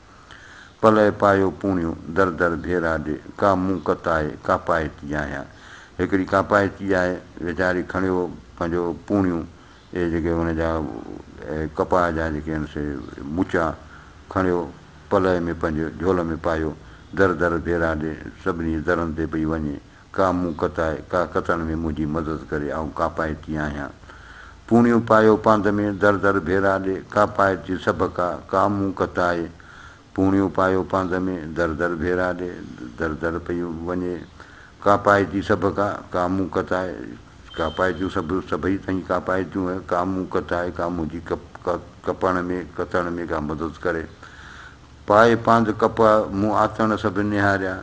پلئه پايو پوڻيو، در در ڀيرا ڏي، ڪا مون ڪت آهي، ڪا پائي تي آهيان. هڪڙي ڪا پائي تي آهي، ويچاري کڻيو پنهنجو پوڻيون، اهي جيڪي هن جا ڪپاء جا جيڪي آهن سي مچا، کڻيو پلئه ۾ پنهنجي جهول ۾ پايو، در در ڀيرا ڏي، سڀني جي درن تي پئي وڃي، ڪا مون ڪتائي، ڪا ڪتڻ ۾ منهنجي مدد ڪري، آئون ڪاپائتي آهيان. پوڻيون پايو پانڌ ۾، در در ڀيرا ڏي، ڪاپائتي سڀ ڪا، ڪا مون ڪتائي. پوڻيون پايو پانڌ ۾، در در ڀيرا ڏي، در در پئي وڃي، ڪاپائتي سڀ ڪا، ڪا مون ڪتائي. ڪاپائتيون سڀ، سڀئي تنهنجي ڪاپائتيون هي، ڪا مون ڪتائي، ڪا منهنجي ڪپڻ ۾، ڪتڻ ۾ ڪا مدد ڪري. پائي پانڌ ڪپاء، مون آتڻ سڀ نهاريا،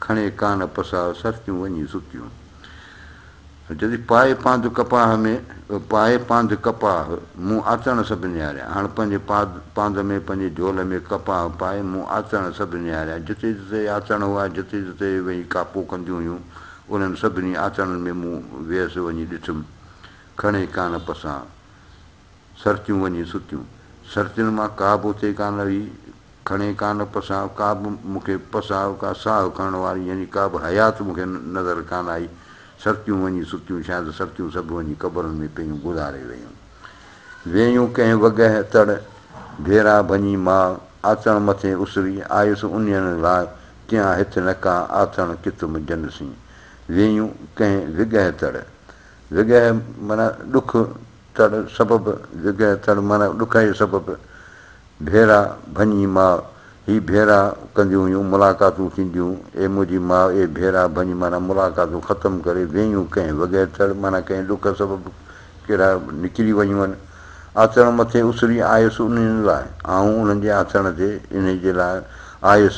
کڻي ڪانه پساهه سرتيون وڃي ستيون. جدي پائي پانڌ ڪپاهه ۾، پائي پانڌ ڪپاهه، مون آتڻ سڀ نهاريا. هاڻ پنهنجي پاڌ پانڌ ۾، پنهنجي جهول ۾ ڪپاهه پائي مون آتڻ سڀ نهاريا. جتي جتي اهي آتڻ هئا، جتي جتي اهي ويهي ڪاپو ڪنديون هيون، انهن سڀني آتڻن ۾ مون ويس وڃي ڏٺم. کڻي ڪانه پساهه. سرتيون وڃي ستيون. سرتين مان ڪا به اٿي ڪا نه ويئي. کڻي ڪا نه پساهه، ڪا به مون کي پساهه، ڪا ساهه کڻڻ واري يعني ڪا به حيات مون کي نظر ڪا نه آئي. سرتيون وڃي ستيون، شايد سرتيون سڀ وڃي قبرن ۾ پيون گذاري ويون. ويون ڪنهن وڳهه تڙ، ڀيرا ڀڃي ماء، آتڻ مٿي اسري، آيس انهين لاء، ڪيان هٿ نه ڪا، آتڻ ڪت منجهن سين. ويون ڪنهن وڳهه تڙ. وڳهه معنيٰ ڏک، تڙ سبب جڳهه تڙ معنيٰ ڏکائيء سبب ڀيرا ڀڃي ماء، هي ڀيرا ڪنديون هيون، ملاقاتون ٿينديون، اي منهنجي ماء، اي ڀيرا ڀڃ معنيٰ ملاقاتون ختم ڪري ويهيون ڪنهن وڳهه تڙ معنيٰ ڪنهن ڏک سبب ڪيرا نڪري وڃون آٿڻ مٿي اسري آيس انهين لاء آئون انهن جي آٿڻ تي انهيء جي لاء آيس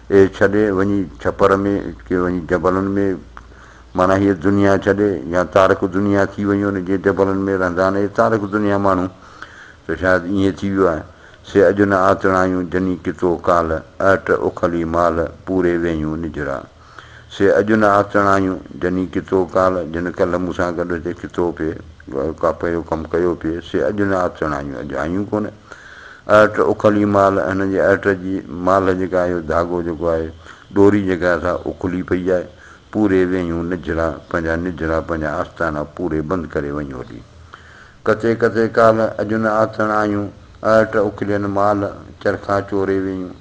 اي ڇڏي وڃي ڇپر ۾، ڪي وڃي جبلن ۾، معنيٰ هيء دنيا ڇڏي يا تارڪ دنيا ٿي وڃو نه، جي جبلن ۾ رهندا آهن اهي تارڪ دنيا ماڻهو، ته شايد ائين ٿي ويو آهي، سي اڄ نه آتڻايون جني ڪتو ڪالهه، اهٽ اکلي مالهه، پوري ويهيون نجرا. سي اڄ نه آتڻايون جني ڪتو ڪالهه، جن ڪالهه مون سان گڏ هتي ڪتو پئي، ڪاپي جو ڪم ڪيو پئي، سي اڄ نه آتڻايون، اڄ آيون ڪونه. ارٽ، اکلي مال، هن جي ارٽ جي مال جيڪا اهو ڌاڳو جيڪو آهي ڏوري جيڪا سا اکلي پئي آهي، پوري ويهيون نجڙا پنهنجا نجڙا پنهنجا آستانا پوري بند ڪري وڃ هلي. ڪٿي ڪٿي ڪالهه اڄ نه آٿڻ آيون، ارٽ اکلين مال، چرخا چوري ويهيون.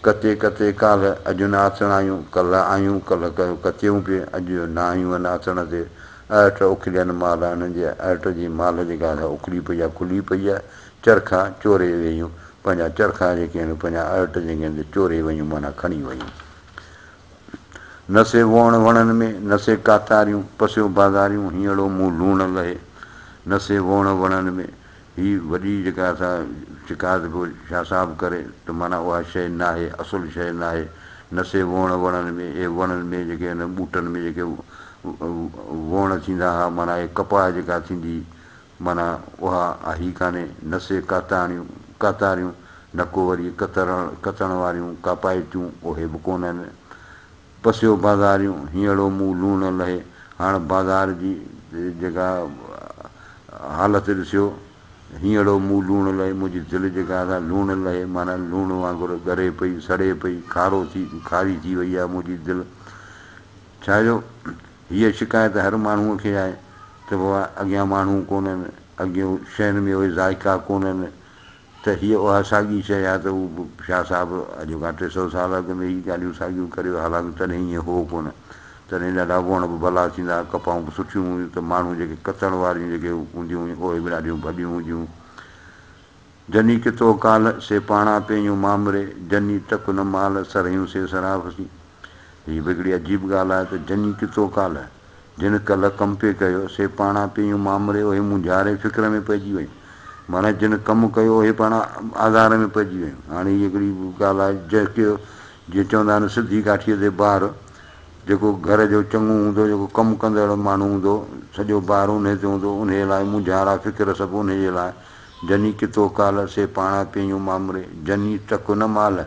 ڪٿي ڪٿي ڪالهه اڄ نه آٿڻ آيون، ڪلهه آيون ڪلهه ڪيو ڪٿيون پي، اڄ نه آيون هن آٿڻ تي، ارٽ اڪليل مال آ انهن جي ارٽ جي مال جيڪا آ سا اڪلي پئي آ کلي پئي آ چرخا چوري ويون پنهنجا چرخا جيڪي آهن پنهنجا ارٽ جيڪي آهن سي چوري ويون معنيٰ کڻي ويون نه سي ووڻ وڻن ۾ نه سي ڪاتاريون پسيو بازاريون هينئڙو مون لوڻ لهي نه سي ووڻ وڻن ۾ هي وڏي جيڪا اسان شڪايت پيو شاهه صاحب ڪري ته معنيٰ اها شيء ناهي، اصل شيء ناهي، نه سي ووڻ وڻن ۾ اهي وڻن ۾ جيڪي انهن ٻوٽن ۾ جيڪي ووڻ ٿيندا ها معنيٰ اهي ڪپاهه جيڪا ٿيندي معنيٰ اها آهي ڪانهي، نه سي ڪاتاڻيون، ڪاتاريون، نه ڪو وري ڪترڻ، ڪتڻ واريون ڪاپائتيون اهي به ڪونهن. پسيو بازاريون هينئڙو مون لون نه لهي هاڻ بازار جي جيڪا حالت ڏسيو هينئڙو مون لون لهي منهنجي دل جيڪا سا لون لهي معنيٰ لون وانگر ڳري پئي سڙي پئي کارو ٿي کاري ٿي وئي آهي منهنجي دل ڇا جو هيء شڪايت هر ماڻهوء کي آهي ته بابا اڳيان ماڻهو ڪونهن اڳيون شين ۾ اهي ذائقا ڪونهن ته هيء اها ساڳي شيء آهي ته هو به شاهه صاحب اڄ کان ٽي سؤ سال اڳ ۾ ئي ڳالهيون ساڳيون ڪري ويو، حالانڪ تڏهن ائين هو ڪونه. تڏهن ڏاڍا وڻ به ڀلا ٿيندا ها، ڪپائون به سٺيون هيون ته ماڻهو جيڪي ڪتڻ واريون جيڪي هونديون هيون، اهي به ڏاڍيون ڀڏيون هونديون هيون. جني ڪتو ڪالهه، سي پاڻا پينيون مامري، جني تڪ نه مالهه، سرهيون سي سراف سين. هي به هڪڙي عجيب ڳالهه آهي ته جني ڪتو ڪالهه، جنھن ڪلهه ڪم پئي ڪيو، سي پاڻان پيئيون مامري اهي مونجهاري فڪر ۾ پئجي ويون. معنيٰ جنھن ڪم ڪيو اهي پاڻان آزار ۾ پئجي ويون. هاڻي هي هڪڙي ڳالهه آهي جيڪي جيئن چوندا آهن سڌي ڪاٺيء تي بار، جيڪو گهر جو چڱو هوندو، جيڪو ڪم ڪندڙ ماڻهو هوندو، سڄو بار انھيء تي هوندو، انھيء لاء مونجهارا فڪر سڀ انھيء جي لاء. جني ڪتو ڪالهه، سي پاڻان پيئيون مامري، جني ٽڪ نه مالهه،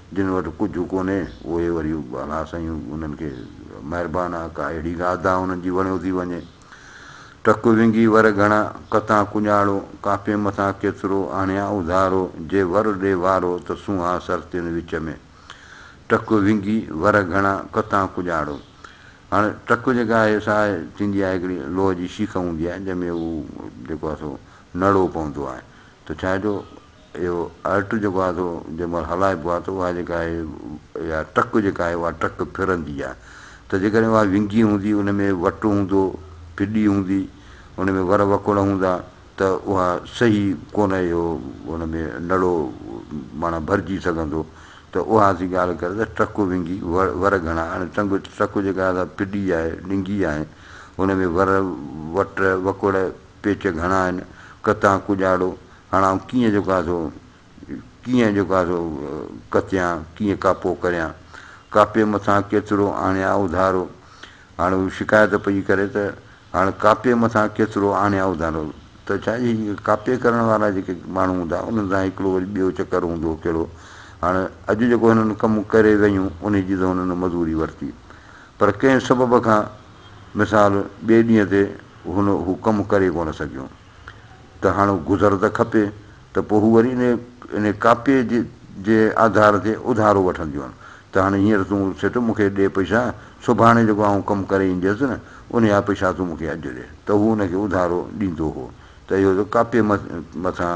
جن وٽ ڪجهه ڪونهي، اهي وري الاهه سائين انهن کي مهربان آ، ڪا اهڙي ڳالهه ڌا انهن جي وڻيو ٿي وڃي. ٽڪ وينگي ور گهڻا، ڪتان ڪڃاڙو، ڪاپين مٿان ڪيترو، آڻيان اڌارو، جي ور ڏي وارو، ته سونهان سر تن وچ ۾. ٽڪ وينگي ور گهڻا، ڪتان ڪڃاڙو. هاڻي ٽڪ جيڪا آهي سا آهي، ٿيندي آهي هڪڙي لوهه جي شيخ هوندي آهي، جنهن ۾ هو جيڪو آهي سو نڙو پوندو آهي، ته ڇا جو. اهو ارٽ جيڪو آهي سو جنهن مهل هلائبو آهي ته اها جيڪا آهي اها ٽرڪ جيڪا آهي اها ٽرڪ ڦرندي آهي ته جيڪڏهن اها ونگي هوندي ان ۾ وٽ هوندو ڦڏي هوندي ان ۾ ور وڪوڙ هوندا ته اها صحيح ڪونه اهو ان ۾ نڙو معنيٰ ڀرجي سگهندو ته اها اسين ڳالهه ڪري ته ٽرڪ ونگي ور گهڻا هاڻي ٽنگ ٽرڪ جيڪا آهي سا ڦڏي آهي ڏنگي آهي ان ۾ ور وٽ وڪوڙ پيچ گهڻا آهن ڪتان ڪڄاڙو هاڻ آئون ڪيئن جو ڪا سو ڪيئن جو ڪا سو ڪتيان، ڪيئن ڪا پو ڪريان. ڪاپيء مٿان ڪيترو آڻيان اوڌارو. هاڻ هو شڪايت پئي ڪري ته هاڻ ڪاپيء مٿان ڪيترو آڻيان اوڌارو. ته ڇا اهي جيڪي ڪاپي ڪرڻ وارا جيڪي ماڻهو هوندا، انهن سان هڪڙو وري ٻيو چڪر هوندو ڪهڙو. هاڻ اڄ جيڪو هنن ڪم ڪري ويون، انهي جي ته هنن مزوري ورتي. پر ڪنهن سبب کان مثال ٻئي ڏينهن تي هن هو ڪم ڪري ڪونه سگهيون. ته هاڻ هو گذر ته کپي ته پوء هو وري ان ڪاپيء جي آڌار تي اڌارو وٺنديون ته هاڻ هينئر تون سيٺ مون کي ڏي پئسا، سڀاڻي جيڪو آئون ڪم ڪري اينديس نه انهيء جا پئسا تون مون کي اڄ ڏي ته هو ان کي اڌارو ڏيندو هو ته اهو ته ڪاپيء مٿان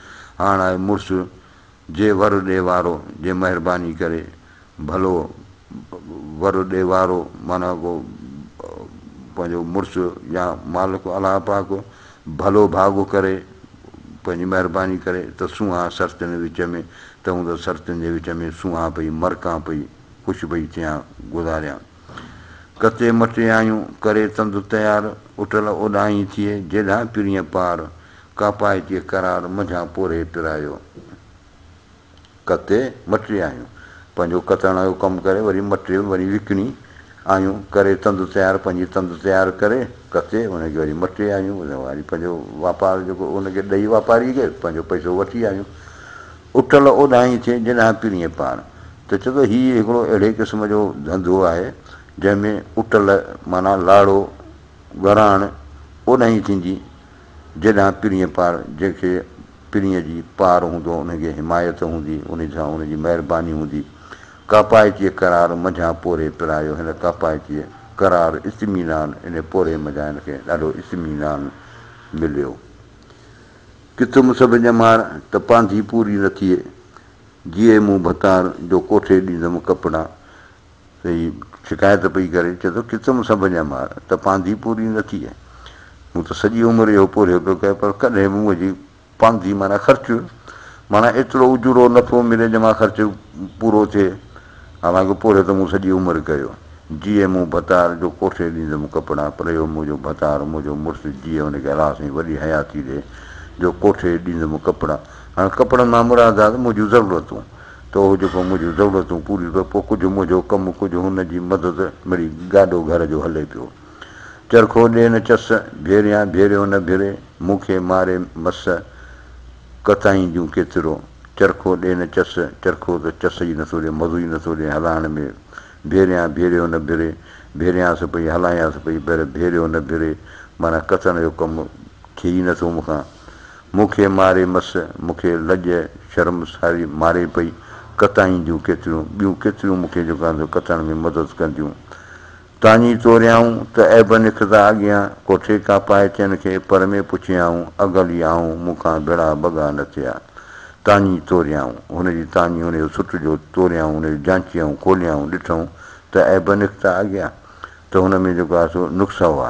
هاڻ آء مڙس جي ور ڏي وارو جي مهرباني ڪري ڀلو ور ڏي وارو معنيٰ ڪو پنهنجو مڙس يا مالڪ الله پاڪ ڀلو ڀاڳو ڪري پنهنجي مهرباني ڪري ته سونهان سرتين وچ ۾ ته هون ته سرتين جي وچ ۾ سونهان پئي مرڪان پئي خوش پئي ٿيان گذاريان. ڪتي مٽي آيون، ڪري تند تيار، اٽل اوڏانهين ٿئي، جيڏانهن پرينء پار، ڪاپائتيء قرار، منجهان پورهيي پرايو. ڪتي مٽي آيون، پنهنجو ڪتڻ جو ڪم ڪري، وري مٽي وري وڪڻي آيون، ڪري تند تيار، پنهنجي تند تيار ڪري، ڪتي ان کي وري مٽي آيون، وري پنهنجو واپار جيڪو ان کي ڏئي واپاريء کي، پنهنجو پئسو وٺي آيون. اٽل اوڏانهين ٿئي جيڏانهن پرينء پاڻ. ته چئو ته هي هڪڙو اهڙي قسم جو ڌنڌو آهي، جنهن ۾ اٽل معنيٰ لاڙو، ٻهراڻ، اوڏانهين ٿيندي جيڏانهن پرينء پاڻ، جنهن کي پرينء جي پار هوندو، ان کي حمايت هوندي، ان سان ان جي مهرباني هوندي. ڪاپائتيء قرار منجهان پورهيي پرايو، هن ڪاپائتيء قرار، اطمينان، انهيء پورهيي منجهان هن کي ڏاڍو اطمينان مليو. ڪٿ مون سڀ ڄمار، ته پانڌي پوري نه ٿئي. جيئي مون ڀتار، جو ڪوٺي ڏيندم ڪپڙا. هيء شڪايت پئي ڪري، چئي ٿو، ڪٿ مون سڀ ڄمار، ته پانڌي پوري نه ٿئي. مون ته سڄي عمر اهو پورهيو پيو ڪيان، پر ڪڏهن به منهنجي پانڌي معنيٰ خرچ، معنيٰ ايترو اجورو نفعو ملي، جو مان خرچ پورو ٿئي. حالانڪه پورهيو ته مون سڄي عمر ڪيو. جيئي مون ڀتار جو ڪوٺي ڏيندم ڪپڙا پر اهو منهنجو ڀتار منهنجو مڙس جيئي ان کي الاس ۽ وڏي حياتي ڏي جو ڪوٺي ڏيندم ڪپڙا. هاڻ ڪپڙن مان مراد آهي ته منهنجون ضرورتون ته اهو جيڪو منهنجون ضرورتون پوريون ڪيو پوء ڪجهه منهنجو ڪم ڪجهه هن جي مدد مڙئي گاڏو گهر جو هلي پيو چرخو ڏي نه چس ڀيريان ڀيريو نه ڀري مون کي ماري مس ڪتائين جون ڪيترو، چرخو ڏي نه چس، چرخو ته چس ئي نٿو ڏي، مزو ئي نٿو ڏي هلائڻ ۾، ڀيريان ڀيريو نه ڀري، ڀيريانس پئي، هلايانس پئي، پر ڀيريو نه ڀري، معنيٰ ڪتڻ جو ڪم ٿئي ئي نٿو مون کان. مون کي ماري مس، مون کي لڄ شرم ساري ماري پئي، ڪتائين جون ڪيتريون، ٻيون ڪيتريون مون کي جيڪو آهن سو ڪتڻ ۾ مدد ڪنديون. تاڃي توريائون ته عيب نڪتا اڳيان، ڪوٺي ڪا پائي چن کي پر ۾ پڇيائون، اگل ئي آئون مون کان ڀيڙا ڀڳا نه ٿيا. تاڃي توريائون، هن جي تاڃي هن جو سٽ جو توريائون هن جو جانچيائون کوليائون ڏٺئون ته عيب نڪتا اڳيان ته هن ۾ جيڪو آهي سو نقص هئا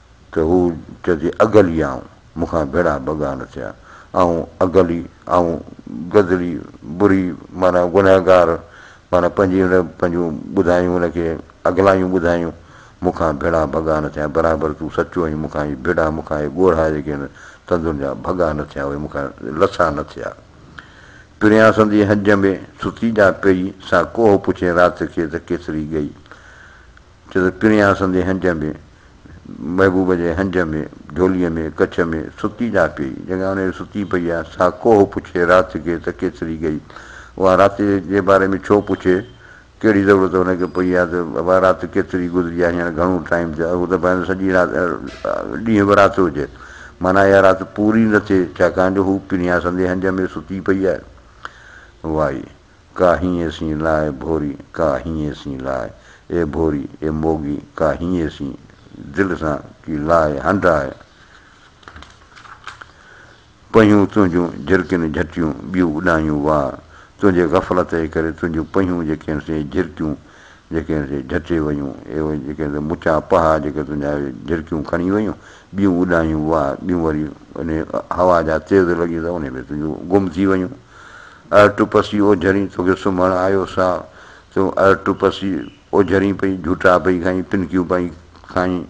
ته هو چئجي اگهلي آئون مون کان ڀيڙا ڀڳا نه ٿيا، آئون اگهلي، آئون گدلي، بري معنيٰ گنهگار، معنيٰ پنهنجي ان پنهنجون ٻڌايون ان کي اگهلايون ٻڌايون، مون کان ڀيڙا ڀڳا نه ٿيا، برابر تون سچو آهين، مون کان اهي ڀيڙا، مون کان اهي ڳوڙها جيڪي آهن تندن جا ڀڳا نه ٿيا، اهي مون کان لٿا نه ٿيا. پريان سندي هنج ۾ ستي جا پيئي، سا ڪوهه پڇين رات کي ته ڪيتري ڳئي. ڇو ته پڻيا اسندي هنج ۾، محبوب جي هنج ۾، جهوليء ۾ ڪڇ ۾، ستي جا پيئي، جيڪا انهيء جو ستي پئي آ، سا ڪوهه پڇي رات کي ته ڪيتري ڳئي؟ اها رات جي باري ۾ ڇو پڇي؟ ڪهڙي ضرورت ان کي پئي آ ته اها رات ڪيتري گذري آ، هينئر گهڻو ٽائيم ٿيو آ، هو ته ڀانئس سڄي رات، ڏينهن به رات هجي، معنيٰ اها رات پوري نه ٿئي، ڇاڪاڻ جو هو پڻيا اسندي هنج ۾ ستي پئي آ. واء! ڪا هينئين سين لاء ڀوري ڪا هينئين سين لاء اي ڀوري اي موڳي ڪا هينئين سين دل سان ڪي لاء هنڊاء پنهون تنهنجون جهرڪين جهٽيون ٻيون اڏايون واء تنهنجي غفلت جي ڪري تنهنجون پنهون جيڪي هن سين جهرڪيون جيڪي هن سين جهٽي ويون اي جيڪي هن سين مچا پها جيڪي تنهنجا اهي جهرڪيون کڻي ويون ٻيون اڏايون واء ٻيون وري انهي هوا جا تيز لڳين ته انهي ۾ تنهنجون گم ٿي ويون. اڙ ٽپسي او جھرين توکي سمھڻ آيو سا تون اڙ ٽپسي او جھرين پئي جھوٽا پئي کائين پنڪيون پئي کائين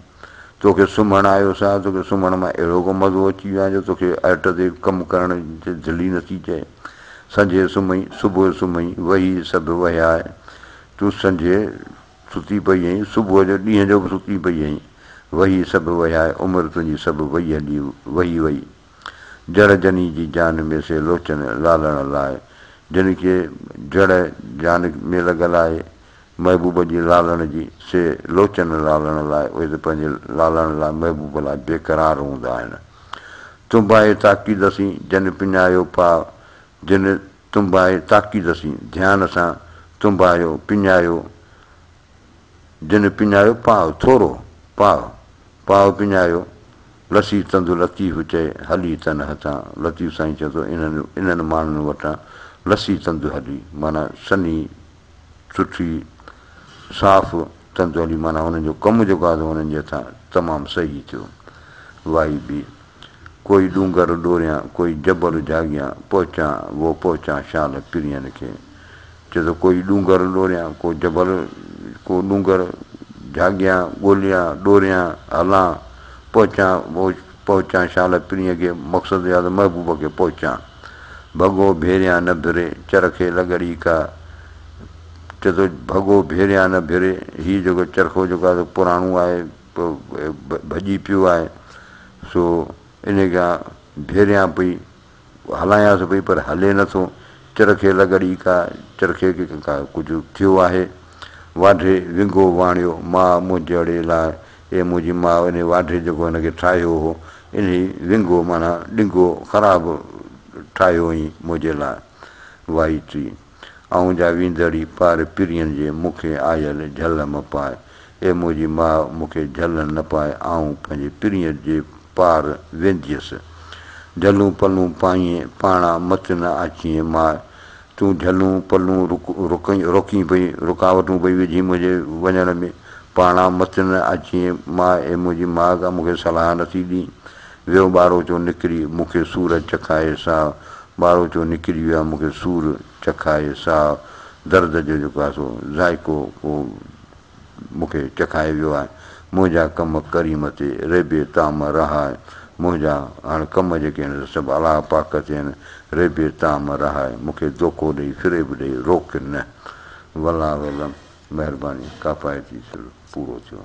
توکي سمھڻ آيو سا توکي سمھڻ مان اھڙو ڪو مزو اچي ويو آ جو توکي ارٽ تي ڪم ڪرڻ تي دل ئي نٿي چئي سنجھي سمھئي صبح سمھئي وھي سڀ وھيا اھي تون سنجھي ستي پئي ھئين صبح جو ڏينھن جو به ستي پئي ھئين وھي سڀ وھيا اھي عمر تنھنجي سڀ وئي ھلي وھي وئي. جڙ جني جي جان ۾ سي لوچن لالڻ لاء جن کي جڙ جان ۾ لڳل آهي محبوب جي لالڻ جي سي لوچن لالڻ لاء اهي ته پنهنجي لالڻ لاء محبوب لاء بي قرار هوندا آهن تنباهي تاڪيد سين جن پڃايو پاء جن تنباهي تاڪيد سين ڌيان سان تنباهيو پڃايو جنھن پڃايو پاء ٿورو، پاء، پاء پڃايو، لسي تند لطيف چئي ھلي تن ھٿان، لطيف سائين چئي ٿو انھن انھن ماڻھن وٽان لسي تند ھلي معنيٰ سنھي، سٺي، صاف تند ھلي معنيٰ ھنن جو ڪم جيڪو آھي سو ھنن جي ھٿان تمام صحيح ٿيو. وائي بي. ڪوئي ڏونگر ڏوريان ڪوئي جبل جھاڳيان پهچان وو پهچان شال پرين کي چئه ته ڪوئي ڏونگر ڏوريان، ڪو جبل ڪو ڏونگر، جهاڳيان ڳوليان، ڏوريان هلان، پهچان اوچ پهچان شال پرينء کي، مقصد يا ته محبوب کي پهچان، ڀڳو ڀيريان نه ڀري، چرخي لڳڙي ڪا، چئه ته ڀڳو ڀيريان نه ڀري، هي جيڪو چرخو جيڪو آهي سو پراڻو آهي، ڀڄي پيو آهي، سو انهيء کان ڀيريان پئي هلايانس پئي پر هلي نه ٿو. چرخي لڳ ڙي ڪا، چرخي کي ڪا ڪجهه ٿيو آهي. واڍي ونگو واڻيو، ماء منهنجڙي لاء، اي منهنجي ماء انهي واڍي جيڪو هن کي ٺاهيو هو، انهي ونگو معنيٰ ڏنگو خراب ٺاهيو هئين منهنجي لاء. وائي ٽي. آئون جا ويندڙي پار پرين جي مون کي آيل جهل م پاء اي منهنجي ماء مون کي جهلن نه پاء آئون پنهنجي پرين جي پار وينديس جهلون پلون پائين پاڻا مت نه آچين ماء تون جهلون پلون رڪين روڪين پئي رڪاوٽون پئي وجهين منهنجي وڃڻ ۾ پاڻا مت نه آچين ماء اي منهنجي ماڳ مون کي صلاح نه ٿي ڏين ويو ٻاروچو نڪري مون کي سور چکائي ساهه ٻاروچو نڪري ويو آ مون کي سور چکائي ساهه درد جو جيڪو آ سو ذائقو ڪو مون کي چکائي ويو آ منهنجا ڪم ڪريم تي ريبي طعم رها آ منهنجا هاڻ ڪم جيڪي آهن سو سڀ الله پاڪ تي آهن ريبي طعم رها آ مون کي دوکو ڏئي فريب ڏئي روڪ نه والله اعلم مهرباني ڪافايتي سر پورو ٿيو.